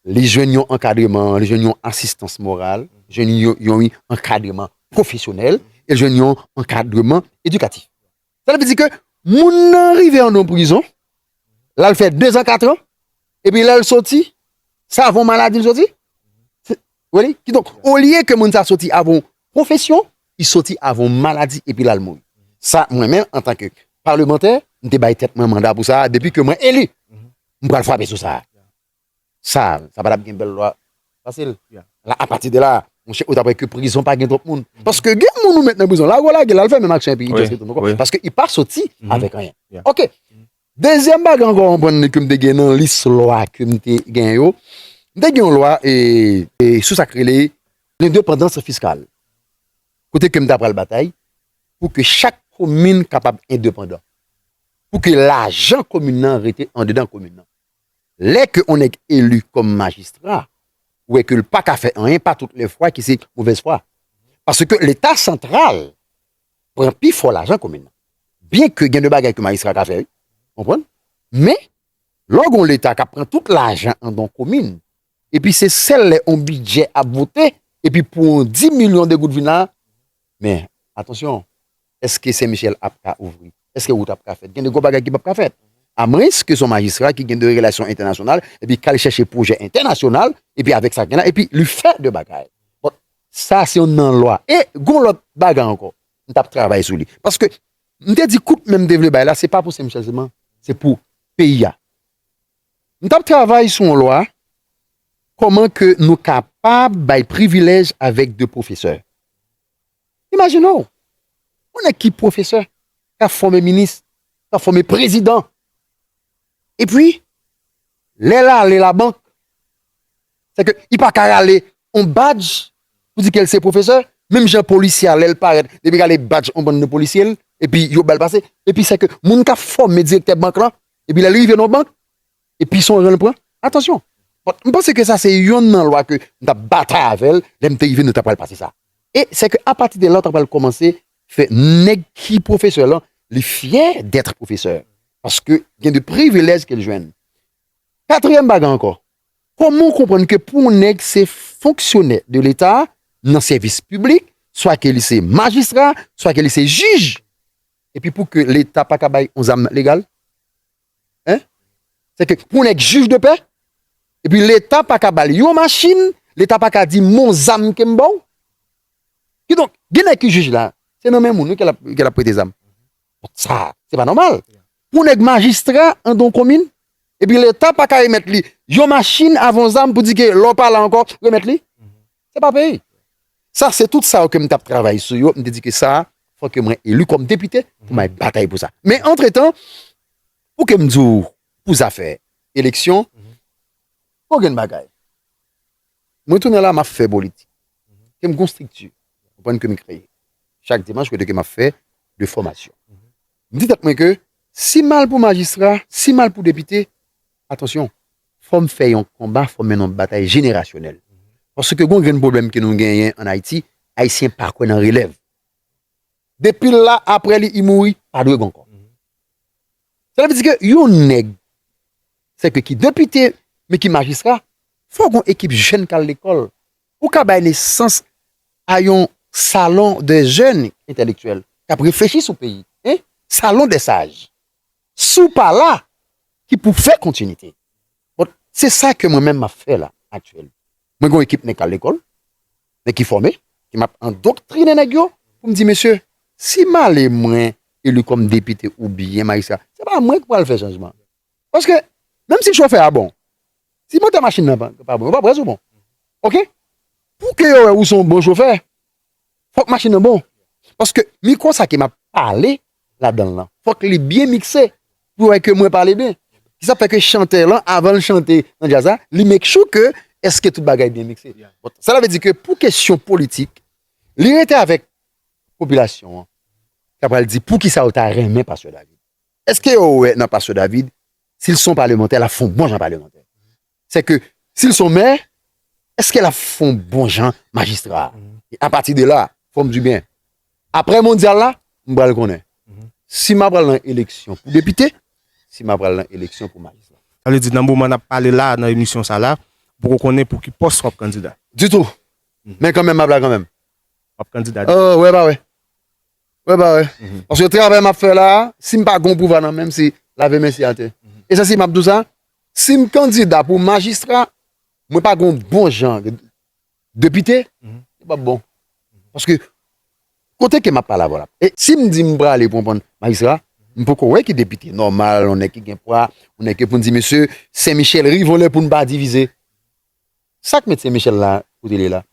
Li jwenn yon ankadreman, li jwenn yon asistans moral, li jwenn yon ankadreman pwofesyonèl, e li jwenn yon ankadreman edikatif. Sa vle di ke moun nan rive an don prizon, la l fè dezan katran, epi lè l soti, sa avon maladi l soti? Weli, ki donk, olye ke moun sa soti avon pwofesyon, li soti avon maladi epi la l mouri. Sa mwen menm an tan ke palemantè, m te bay tèt mwen manda pou sa a depi ke mwen eli. M pral frape sou sa a. Sa sa patap gen bèl lwa fasil la apati de la monchè ou tap wè ke prizon pa gen twòp moun paske gen moun ou met nan prizon lago lagel al fè menm aksyon epi itos retou ankò paske li pa soti avèk anyen ok dezyèm bagay ankò ou konprann li kem te gen nan lis lwa kem te gen yo m te gen yon lwa e sou sak rele lendepandans fiskal kote kem ta pral batay pou ke chak komin kapab endepandan pou ke lajan komin nan rete andedan komin nan. Lè ke on nèg eli kòm majistra, ou wè ke l pa ka fè anyen, pa tout lè fwa ki se movèz fwa. Paske leta santral pran pi fò lajan komin nan. Byen ke gen de bagay ke majistra ka fè wi, ou konprann? Men, lè w gen on leta k ap pran tout lajan an don komin, epi se sèl lè on bidjè ap vote, epi pou on di milyon de goud vin la, men, atansyon, Eske Sen Michel ap ka ouvri? Eske wout ap ka fèt? Gen de gwo bagay ki pap ka fèt. A mwens ke se yon majistra ki gen de relasyon entènasyonal epi kal chèche pwojè entènasyonal epi avèk sa gen la epi li fè de bagay. Bon, sa se yon nan lwa. E gon lòt bagay ankò m tap travay sou li. Paske m te di kout men m te vle bay la se pa pou Sen Michel sèlman, se pou peyi a. M tap travay sou yon lwa kòman ke nou kapab bay privilèj avèk de pwofesè. Imajine w, yon nèg ki pwofesè, k ap fòme minis, k ap fòme prezidan, epi lè l ale labank, se ke li pa ka rale yon badj pou di ke l se pwofesè, menm jan polisye a lè l parèt, li vin rale badj yon bann de polisye l, epi yo ba l pase, epi se ke moun k ap fòme direktè bank lan, epi lè l rive nan yon bank, E pi son jan l pran? Atansyon! Bon, m panse ke sa se yonn nan lwa ke m t ap batay avè l, lè m te rive nou ta pral pase sa. E se ke apati de la ou ta pral kòmanse fè nèg ki pwofesè lan, li fyè dètre pwofesè. Paske gen de privilèj ke l jwenn. Katriyèm bagay ankò, kòman ou konprann ke pou yon nèg se fonksyonè de leta, nan sèvis piblik, swa ke li se majistra, swa ke li se jij, e pi pou ke leta pa ka bay yon zam legal? Hein? Se ke pou nèg jij de pè, epi leta pa ka bal yon machin, leta pa ka di m'on zam ke m baw. Ki donk, gen nèg ki jij la, se nan men moun wi ke lap, ke lap prete zam. Donk sa, se pa nòmal. Pou nèg majistra an don komin, epi leta pa ka remèt li yon machin avan yon zam pou di ke lè w pa la ankò, remèt li. Se pa peyi. Sa se tout sa yo ke m t ap travay sou yo, m te di ke sa fò ke mwen eli kòm depite pou m al batay pou sa. Men antretan, pou ke m di w pou zafè eleksyon, pa gen bagay. Mwen tounen la m ap fè politik. Ke m gen yon estrikti, ou konprann, ke m kreye chak dimanch kote ke m ap fè de fòmasyon. M di tèt mwen ke si m al pou majistra, si m al pou depite, Atansyon, fò m fè yon konba, fò m mennen yon batay jenerasyonèl. Paske gen yon grenn pwoblèm ke nou genyen an Ayiti, Ayisyen pa kwè nan relèv. Depi l la, apre li, li mouri, pa dwe gen ankò. Sa vle di ke yon nèg, se ke ki depite, men ki majistra, fò gen yon ekip jèn k al lekòl, pou ka bay nesans a yon salon de jèn entèlektyèl, k ap reflechi sou peyi, salon de saj. Si w pa la, ki pou fè kontinite. Bon, se sa ke mwen menm m ap fè la aktyèlman. Mwen gen yon ekip nèg k al lekòl, nèg ki fòme, ke m ap andoktrine nèg yo pou m di, mesye, si male mwen eli kòm depite oubyen majistra, se pa mwen ki pral fè chanjman an. Paske, menm si chofè a bon, si motè machin nan pa bon, yo pa pral sou bon. Ok? Pou ke yo wè ou se yon bon chofè, Fòk machin nan bon. Paske mikro sa ke m ap pale ladan l lan, fòk li byen mikse pou yo wè ke mwen pale byen. Ki sa k fè ke chantè lan, avan l chante nan djaz la, li make sure ke èske tout bagay byen mikse. Sa la vle di ke pou kesyon politik, li rete avèk popilasyon an k apral di pou ki sa yo ta renmen Pastè David. Èske yo wè nan Pastè David, si l se yon palemantè, l ap fè yon bon jan palemantè? Se ke, si l son mè, eske l ap fon bon jan majistra? E a pati de la, fò m di byen, apre mondyal la, m pral konnen. Si m ap pral nan eleksyon pou depite, si m ap pral nan eleksyon pou majistra. Sa vle di nan moman n ap pale la a, nan emisyon sa la, ou poko konnen pou ki pòs w ap kandida? Ditou! Men kanmenm m ap la kanmenm. W ap kandida ditou? Wè pa wè. Wè pa wè. Paske travay map fè la, sim pa gon pouvwa nan menm se lave men se atè. E sa si map di w sa, sim kandida pou majistra, mwen pa gon bon jan depite, li pap bon. Paske kote ke map pale avè w la. E sim di m prale pou pran majistra, m poko wè ki depite nòmal, yon nèg ki gen pwa, yon nèg ke pou n di mesye, Sen Michèl ri vole pou n pa divize. Sak met se Michel la kote li la.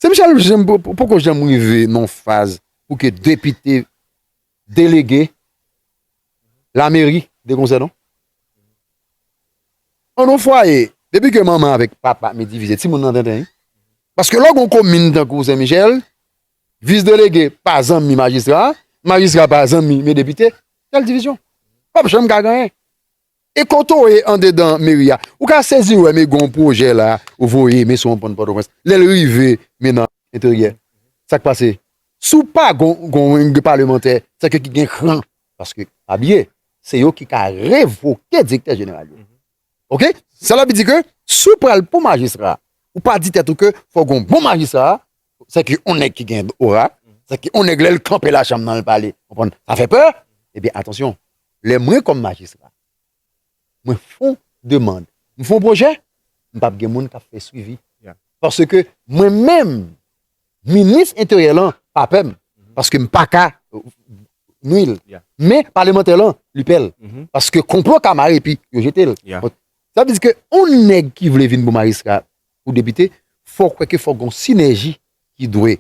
Se Michel janm poko janm rive nan faz pou ke depite delege la meri de konse non. An non fwaye depi ke manman avek papa mi divize ti moun nan tenten wi. Paske lò gon komin tankou se Michel vis delege pa zanmi majistra, majistra pa zanmi me depite kèl divizyon. Pap janm ka gen anyen. E kote w ye andedan meri a? Ou ka sezi wè men gen yon pwojè la ou voye men sou yon pon Pòtoprens. Lè l rive men nan enteryè, sa k pase? Si w pa gen palemantè sa k ki gen kran, paske pa bliye se yo ki ka revoke direktè jeneral yo. Ok? Sa l ap di ke si w pral pou majistra, ou pa di tèt ou ke fò gen yon bon majistra, sa k yon nèg ki gen ora, sa k yon nèg lè l kanpe lachanm nan l pale, sa fè pè, ebyen atansyon. lè mwen kòm majistra mwen fon demand m fon pwojè m pap gen moun kap fè swivi paske mwen menm minis enteryè lan pa pè m paske m paka nwi l men palemantè lan li pè l paske konplo ka mare epi yo jete l sa vle di ke yon nèg ki vle vin pou majistra pou depite fòk wè ke fòk gon sinèji ki dwe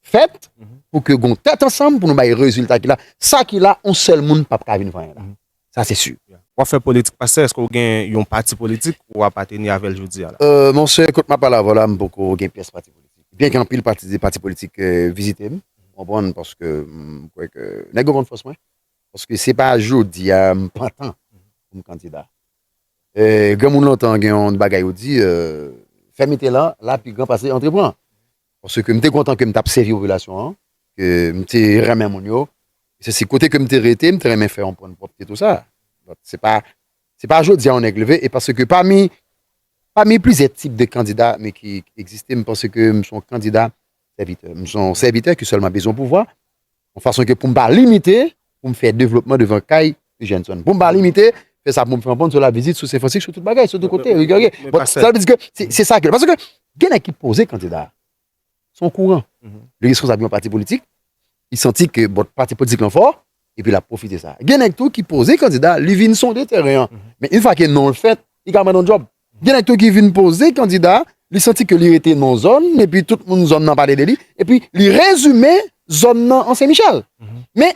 fèt pou ke gon tèt ansanm pou nou bay rezilta ki la. Sa ki la, yon sèl moun pap ka vin vanyan la. Sa se si. Wap fè politik pastè eske ou gen yon pati politik ou apateni avèl jodi a la? Euh mon sè kot map pale avèw la mpoko gen pyès pati politik. Byen ke anpil pati politik vizitem ou konprann paske mkwè ke nèg yo konn fòs mwen paske se pa jodi a mpantan poum kandida. Granmoun lontan gen yon bagay yo di, fè mete lan la pi gran pase antre pran. Paske m te kontan ke m t ap sèvi popilasyon an, ke m te renmen moun yo, esesi. Kote ke m te rete, m te renmen fè yon pwen pwòpte tou sa. Donk se pa, se pa jodi a yon nèg leve, e paske pami, pami plizyè tip de kandida me ki egziste, m panse ke m s on kandida sèvitè. M s on sèvitè ki sèlman bezwen pouvwa, Yon fason ke pou m pa limite pou m fè devlopman devan kay Eugène Son. Pou m pa limite fè sa pou m fè anpon sou la vizit, sou Senfransik, sou tout bagay, sou tout kote. Sa vle di ke se sa ke. Paske ke gen nèg ki poze kandida. Se yon kouran. Li reskonsab yon pati politik. Li santi ke bon pati politik lan fò. Epi l ap pwofite sa. Gen nèg tou ki poze kandida. Li vin sonde tèren an. Men yon fwa ke non l fèt, li ka mande yon djòb. Gen nèg tou ki vin poze kandida, li santi ke li rete nan yon zòn, epi tout moun zòn nan pale de li, epi li rezime zòn nan an Sen Michèl. Men,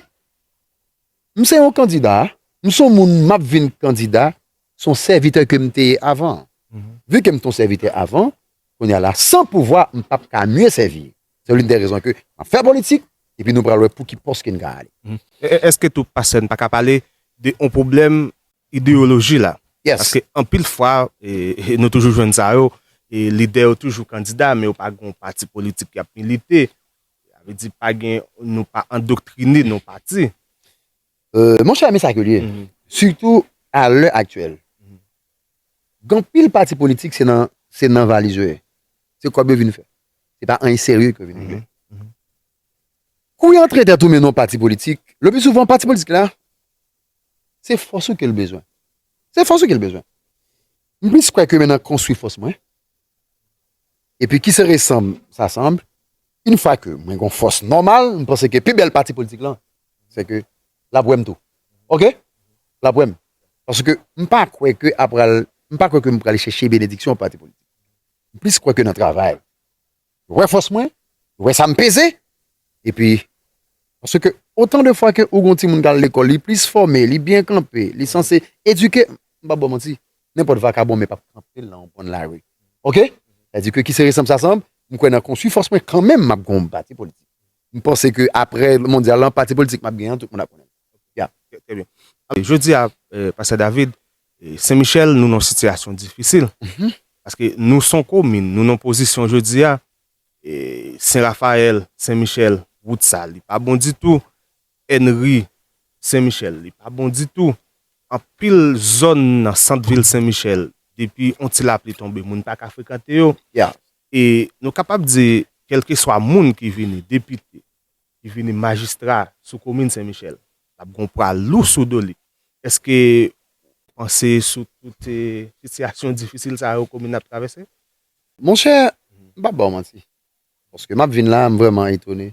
m se yon kandida, m se yon moun m ap vin kandida, se yon sèvitè ke m te ye avan. Vu ke m te yon sèvitè avan, kounye a la, san pouvwa, m pap ka mye sèvi. Se l'une des raisons ke m ap fè politik, epi nou pral wè pou ki pòs ke n ka ale. Eske tou pastè n pa ka pale de yon pwoblèm Ideyoloji la. Paske anpil fwa, nou toujou jwenn sa yo, lidè yo toujou kandida, men yo pa gen yon pati politik y ap milite. Sa vle di pa gen, nou pa andoktrine nan yon pati. Monchè, men sa ke li ye. Sitou a lè aktyèl. Gen anpil pati politik se nan, se nan valiz yo ye. Se kòb yo vin fè. Se pa anyen serye ke yo vin regle. Kou yo antre tèt ou men nan yon pati politik, le pli souvan pati politik la, Se fòs ou ke l bezwen. Se fòs ou ke l bezwen. M plis kwè ke men nan konstwi fòs mwen. E pi ki se resanm sa sanm. Yn fwa ke mwen gon fòs nòmal, m panse ke pi bèl pati politik lan, se ke l ap wè m tou. Ok? L ap wè m. Paske m pa kwè ke a pral, m pa kwè ke m prale chèche benediksyon pati politik. M plis kwè ke nan travay. Ou wè fòs mwen? Ou wè sa m peze? Epi, paske otan de fwa ke ou gen yon timoun k al lekòl, li plis fòme, li byen kanpe, li sanse edike, m pa p ba w manti, nenpòt vakabon men pa p kanpe l nan yon kwen lari. Oke? Sa di ke ki se resanb sa sanb, m kwè nan konstwi fòs mwen kanmenm m ap gen yon pati politik. M panse ke apre mondyal lan, pati politik m ap gen an, tout moun ap konnen l. Jodi a pastè David, Sen Michel nou nan sitiyasyon difisil, paske nou son komin, nou nan pozisyon jodi a, Sen Rafayèl, Sen Michel, wout sa li pa bon ditou, Enri, Sen Michel, li pa bon ditou, anpil zòn nan sant vil Sen Michel, depi yon ti lapli tonbe moun pa ka frekante yo, e nou kapab di kèlkeswa moun ki vini, depite, li vini majistra sou komin sen michel lap gon pwa lou sou do li eske ou panse sou tout sitiyasyon difisil sa yo komin ap travèse? Monchè m pap baw manti paske map vin la m vrèman etone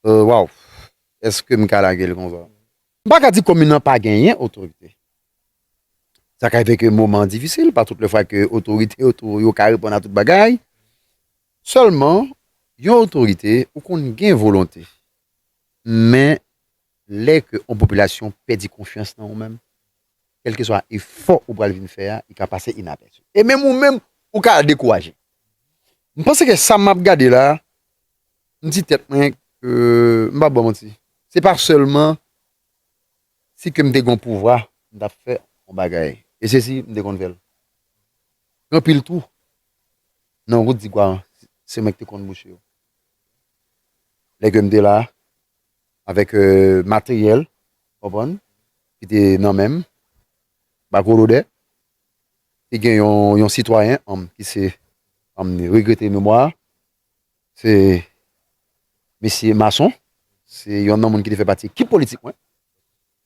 waww eske m ka lagel konsa m paka di komin nan pa genyen otorite sa ka rive ke moman an difisil pa tout le fwa ke otorite yo ka reponn a tout bagay Sèlman yon otorite ou konn gen volonte men lè ke yon popilasyon pèdi konfyans nan ou menm kèlkeswa efò ou pral vin fè a li ka pase inapèsi e menm ou menm ou ka dekouraje m panse ke sa map gade la m di tèt mwen ke m pap baw manti se pa sèlman si ke m te gen yon pouvwa m tap fè yon bagay e se si m te konn fèl gen anpil tou Nan wout Digwaran, se mwen ki te konn bouche yo. Lè ke m te la, avèk materyèl, ou konprann, ki te nan men m, ba gwo lodè, te gen yon sitwayen, anm, ki se, anm, regrete memwa, se Mesye Mason, se yonn nan moun ki te fè pati ekip politik mwen.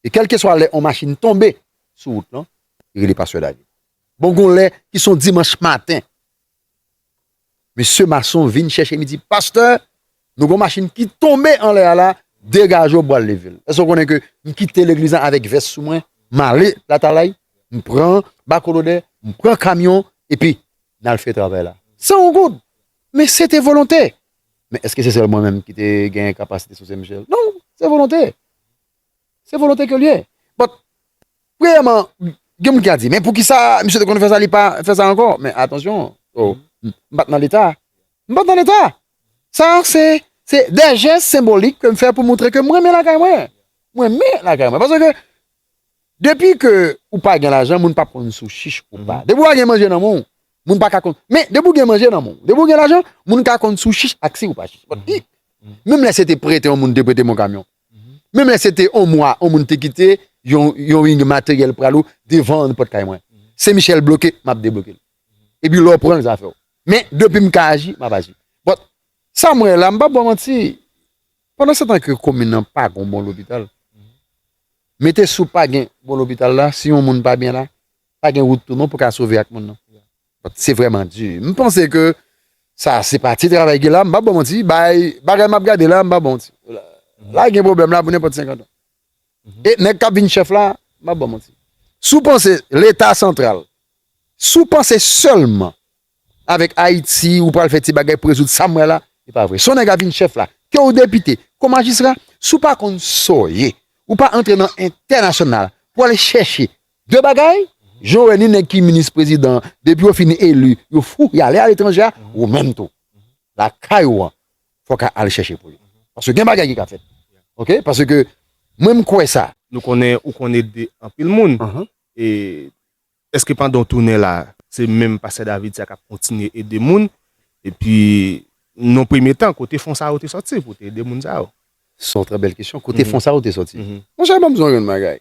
E kèlkeswa lè on machin tonbe sou wout lan, li rele Pastè David. Bon gon lè ki son dimanch maten, mesye mason vin chèche m, li di, Pastè, nou gon machin ki tonbe anlè a la, degaje w bwal leve l. Èske w konnen ke m kite legliz lan avèk vès sou mwen, m ale Latalay, m pran bako lodè, m pran kamyon, epi n al fè travay la. San on goud! Men se te volonte! Men èske se sèl mwen menm ki te gen kapasite sou Sen Michel? Non, se volonte! Se volonte ke li ye. But, premyèman, gen moun ki a di, men poukisa misye te konn fè sa li pa fè sa ankò? Men atansyon, oh, m pa t nan leta. M pa t nan leta. Sa se, se dè jès senbolik ke m fè pou moutre ke m renmen lakay mwen. M renmen lakay mwen. Pase ke, depi ke ou pa gen lajan, moun pa p konn si w chich ou pa. Depi ou pa gen manje nan men w, moun pa ka konn. Men, depi ou gen manje nan men w, depi ou gen lajan, moun ka konn si w chich ak si ou pa chich. But, menm lè se te prete yon moun te prete m yon kamyon. Menm lè se te on mwa on moun te kite yon ing materyèl pral ou devan an pòt kay mwen. Se Michel bloke, m ap debloke l. Epi lè w pran l zafè w. Men, depi m ka aji, m ap aji. But, sa m wè la, m p ap ba w manti, pandansetan ke komin nan pa gon bon lopital, mete sou pa gen bon lopital la, si yon moun pa byen la, pa gen wout tou non pou ka sove ak moun nan. But se vreman di. M panse ke sa se pa ti travay ki la. M pa bon manti. Bay bagay m ap gade la m pa bon manti. La gen pwoblèm la pou nenpòt 50 an. E nèg k ap vin chèf la, m pa bon manti. Si w panse leta santral, si w panse sèlman avèk Ayiti ou pral fè ti bagay pou rezoud sa m wè la, e pa vre. Si yon nèg ap vin chèf la, ke w depite, ke w majistra, si w pa konn sa w ye, ou pa antre nan entènasyonal pou al chèche 2 bagay, jan w wè ni nèg ki minis prezidan depi yo fin eli yo fou y ale aletranje a, ou menm tou lakay ou an fò ka al chèche pou yo paske gen bagay ki ka fèt ok paske mwen m kwè sa. Nou konnen ou konn ede anpil moun e eske pandan w tounen la se menm pastè David sa k ap kontinye ede moun epi non premye tan kote fon sa yo te sòti pou w te ede moun sa yo? S on trè bèl kesyon, kote fon sa yo te sòti? Monchè ban m di w yon bagay,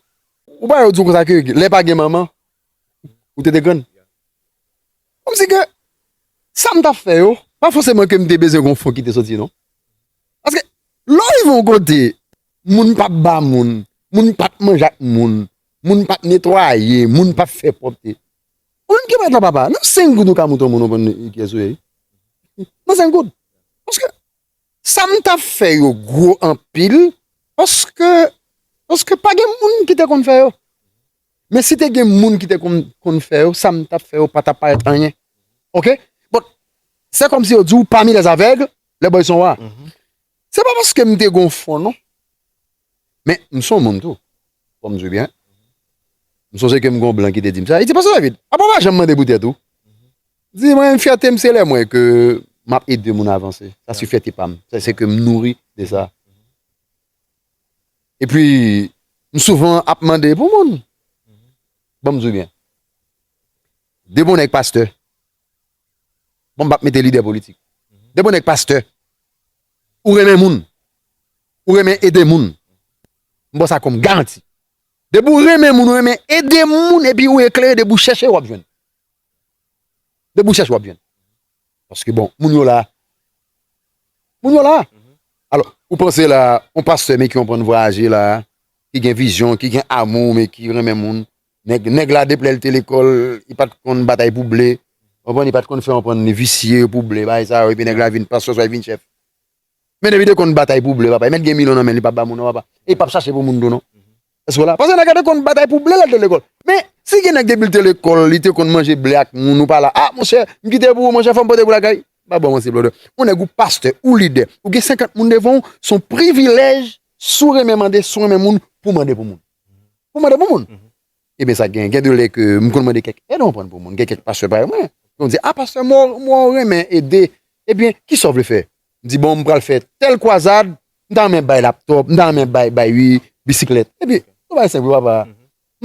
Ou pa yo di w konsa ke lè pa gen manman ou te te grann? Kòm si ke sa m t ap fè yo pa fòseman ke m te bezwen gen yon fon ki te soti non. Paske lè w rive yon kote moun pa p ba moun, moun pa p manje ak moun, moun pa p netwaye, moun pa p fè pwòpte. Ou menm ki pa t la papa, nan 5 goud ou ka montre yon moun ou konn ki yès ou ye wi. Nan 5 goud. Paske Sa m tap fè yo gwo anpil paske paske pa gen moun ki te konn fè yo. Men si te gen moun ki te konn fè yo, sa m tap fè yo pa tap parèt anyen. Ok. Bon, se kòm si yo di w pami lè zavèg, lè bòy son wa. Se pa paske m te gen w fon non. Men m son moun tou. Fò m di w byen. M sonje ke m gen w blan ki te di m sa. Li di, Pastè David, apa w pa janm mande pou tèt ou? Di mwen fyètem se lè m wè ke m ap ede moun avanse. Sa se fyète pa m. Sa se ke m nouri de sa. E pi, m souvan ap mande pou moun. Bon m di w byen. De bon nèg pastè. Bon m pa p mete lidè politik. De bon nèg pastè. Ou renmen moun. Ou renmen ede moun. M ba w sa kòm garanti. Depi w renmen moun, ou renmen ede moun, epi ou eklere depi w chèche w ap jwenn. Depi ou chèche wap jwenn. Paske bon, moun yo la. Moun yo la. Alò, ou panse la, yon pastè men ki yon prann vwayaje la, ki gen vizyon, ki gen amou, men ki renmen moun. Nèg, nèg la depi lèl te lekòl, li pat konn batay pou ble. Ou konprann, li pat konn fè yon prann li visye pou ble, bay sa yo, epi nèg la vin pastè oswa li vin chèf. Men depi de konn batay pou ble papa e met gen milyon nan menl li pap ba moun non papa e pap chache pou moun tou non eske w la pase nèg la te konn batay pou ble lèl te lekòl men si gen nèg depi l te lekòl li te konn manje ble ak moun ou pa la a monchè m kite pou ou monchè fò m pote pou lakay m pa bon ansyi blòdè on nèg ou pastè ou lidè ou gen 50 moun devan w son privilèj si w renmen mande si w renmen moun pou mande pou moun pou mande pou moun E ben sa gen, gen de lè ke m konn mande kèk èd ou konprann pou moun, gen kèk pastè parèy mwen, yo konn di, a pastè mwen w mwen w renmen ede, e ben ki sa w vle fè? M di bon m pral fè tèl kwazad, m ta renmen bay laptòp, m ta renmen bay bay ui bisiklèt, e pi se yon bagay senp wi papa,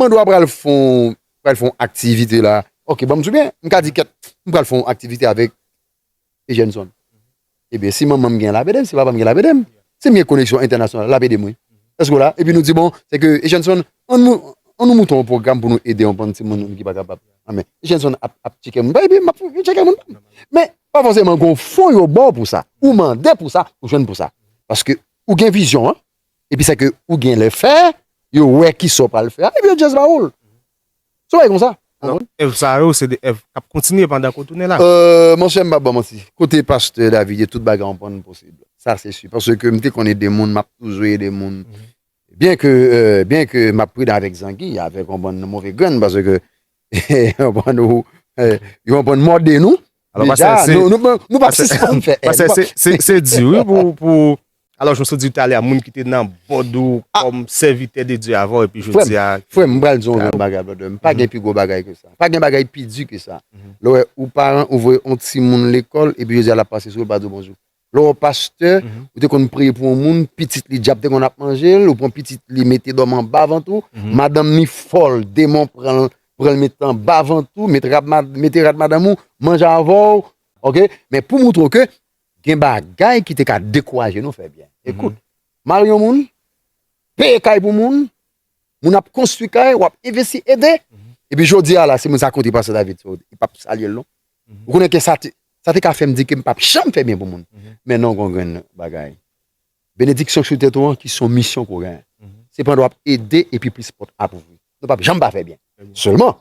mande w a pral fè yon pral fè yon aktivite la, ok banm sou byen, m ka di kèt m pral fè yon aktivite avèk e jèn zòn. Ebyen, si manman m gen, l ap ede m, si papa m gen, l ap ede m. Si m gen koneksyon entènasyonal, l ap ede m wi. Èske w la? Epi nou di bon, se ke e jèn zòn, an nou, an nou moute yon pwogram pou nou ede yon bann timoun ki pa kapab. Anben, e jèn zòn ap, ap tcheke moun pa yo epi m ap tcheke moun pa m. Men, pa fòseman gen yon fon yo ba w pou sa. Ou mande pou sa, ou jwenn pou sa. Paske ou gen vizyon an, epi sa ke ou gen lè fè, yo wè kisa w pral fè a, epi yo jis ba w l. Se bagay konsa. Donk èv sa yo se de èv k ap kontinye pandan ke w tounen la. Monchè m pa p ba w manti. Kote pastè David ye tout bagay an pann posib. Sa se si. Paske m te konn ede moun, m ap toujou ede moun. Byen ke byen ke m ap pridan avèk zangi, avèk w konprann move grenn paske w konprann ou konprann mòde nou Alò pa se se Nou pa se se fèm fè Pa se se se se di wi pou pou Alò jwè sou di talè a moun ki te nan bòd ou kòm sèvitè de Dieu avò epi jwè di a Fwèm mbral di yon bagay bòdè m pa gen pi gwo bagay ke sa pa gen bagay pi di ke sa lò wè ou paran ou vwe yon ti moun lekòl epi jwè di a la pase sou ou pa di bonjou Lè w pastè, ou te konn priye pou yon moun, pitit li dyab te konn ap manje l, ou pran pitit li mete dòmi anba vant ou, madanm li fòl, demon pran l, pran l met anba vant ou, met rad mete rad madanm ou, manje avè w, ok, men pou moutre w ke gen bagay ki te ka dekouraje nou fè byen. Ekout, mari yon moun, peye kay pou moun, Moun ap konstwi kay, wap envesti, ede. Epi jodi a la, si moun sa konte Pastè David sa yo, li pap salye l non. Ou konnen ke sa te, sa te ka fè m di ke m pap janm fè byen pou moun. Men non gon grenn bagay. Benediksyon ki sou tèt ou an ki se yon misyon ke w genyen. Se pandan wap ede epi plis pòt ap ouvri. Nou pap janm pa fè byen. Sèlman,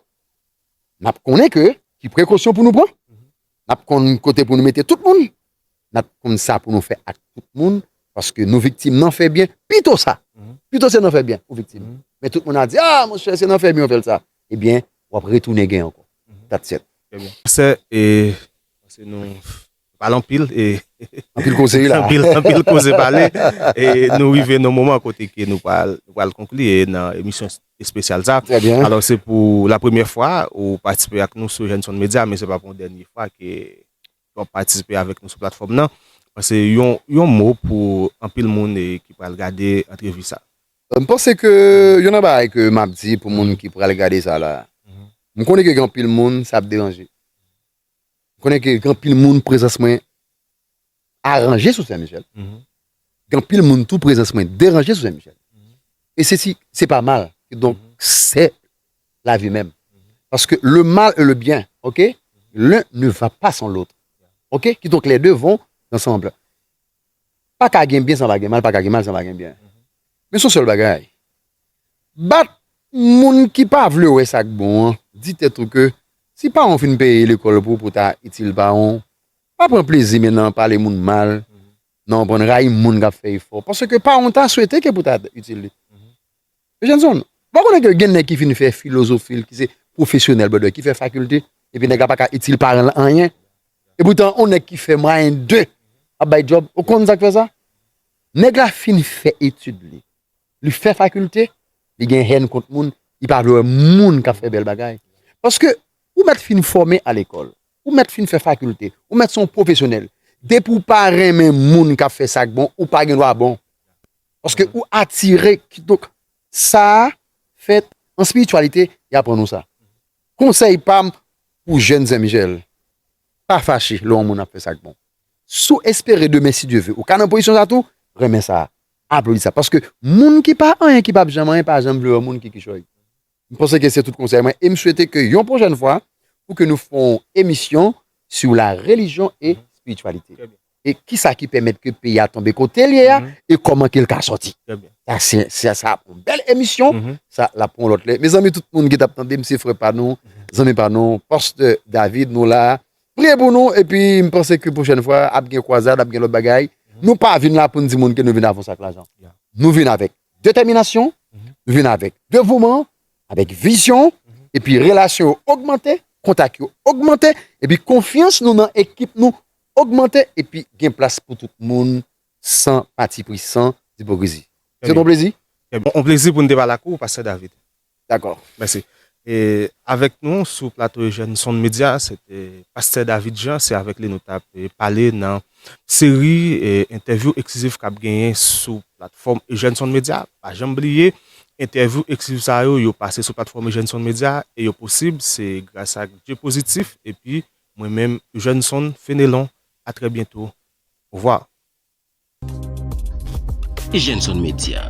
n ap konnen ke ki prekosyon pou nou pran, n ap konn kote pou nou mete tout moun, n ap konn sa pou nou fè ak tout moun, paske nou viktim nan fè byen, pito sa, pito se nan fè byen ou viktim, men tout moun a di, ah monchè se nan fè byen ou fè l sa, ebyen w ap retounen gen ankò, that's it. Pastè, e, pase nou Pale anpil e Anpil koze wi la. Anpil koze pale e nou rive nan moman kote ke nou pral konkli nan emisyon espesyal sa. Trè byen. Alò se pou la premyè fwa ou patisipe ak nou sou Jènson Medya men se pa pou yon dènye fwa ke w ap patisipe avèk nou sou platfòm nan. Pase yon mo pou anpil moun ki pral gade antrevi sa. M panse ke yon nan bagay ke m ap di pou moun ki pral gade sa la, m konnen ke gen anpil moun sa ap deranje. Konnen ke gen anpil moun prezans mwen aranje sou Sen Michel. Gen anpil moun tou prezans mwen deranje sou Sen Michel. E se si, se pa mal. E donk, se la vi menm. Paske le mal e le byen, ok, l'un ne va pa san l'autre. Ok, ki donk les deux vont ensemble. Pa ka gen byen san pa gen mal, pa ka gen mal san pa gen byen. Men son sèl bagay, Bat moun ki pa vle wè sa k bon an Di tèt ou ke si paran w fin peye lekòl pou pou ta itil paran w Pa pran plezi men nan pale moun mal nan konprann Rayi moun k ap fè efò paske paran w ta swete ke pou ta itil li Eugenson Ou pa konnen ke gen nèg ki fin fè filozofi l ki se pwofesyonèl brother ki fè fakilte epi nèg la pa ka itil paran l anyen epoutan on nèg ki fè mwayen 2 ap bay djòb Ou konn sa k fè sa Nèg la fin fè etid li li fè fakilte, li gen hèn kont moun, li pa vle wè moun k ap fè bèl bagay. Paske, ou mèt fin fòme a lekòl, ou mèt fin fè fakilte, ou mèt se yon pwofesyonèl, depi w pa renmen moun k ap fè sa k bon, ou pa gen dwa bon. Paske, ou atire, kidonk, sa a fèt an espirityalite, y aprann nou sa. Konsèy pa m pou jèn zenmjèl, pa fache lè yon moun ap fè sa k bon. Si w espere demen, si Dye ve, ou ka nan pozisyon sa a tou, renmen sa a. Aplodi sa. Paske moun ki pa anyen, ki pap janm anyen, pa janm vle wè moun ki kichòy. M panse ke se tout konsèy mwen e m swete ke yon pwochèn fwa pou ke nou fè yon emisyon sou la relijyon e espirityalite. E kisa ki pèmèt ke peyi a tonbe kote l ye a e kòman ke l ka sòti. Sa se, sa sa ap yon bèl emisyon. Sa l ap pou yon lòt lè. Mezanmi tout moun ki t ap tande m se frè pa nou, zanmi pa nou, Pastè David nou la a Priye pou nou epi m panse ke pwochèn fwa ap gen kwazad, ap gen lòt bagay. Nou pa vin la pou n di moun ke nou vin avans ak lajan. Nou vin avèk detèminasyon, nou vin avèk devouman, avèk vizyon, epi relasyon yo ogmante, kontak yo ogmante, epi konfyans nou nan ekip nou ogmante, epi gen plas pou tout moun san patipri, san ipokrizi. Se te yon plezi. On plezi pou n te pale ak ou, Pastè David. Dakò. Mèsi. E avèk nou sou plato Eugène Son Média se te Pastè David Jean, se avèk li nou t ap pale nan seri entèvyou eksklizif k ap genyen sou platfòm Eugène Son Média. Pa janm bliye entèvyou eksklizif sa yo, yo pase sou platfòm Eugène Son Média e yo posib se gras ak Dye Pozitif epi mwen menm Eugène Son Fénélon. A trè byento. Ovwa. Jenson Media.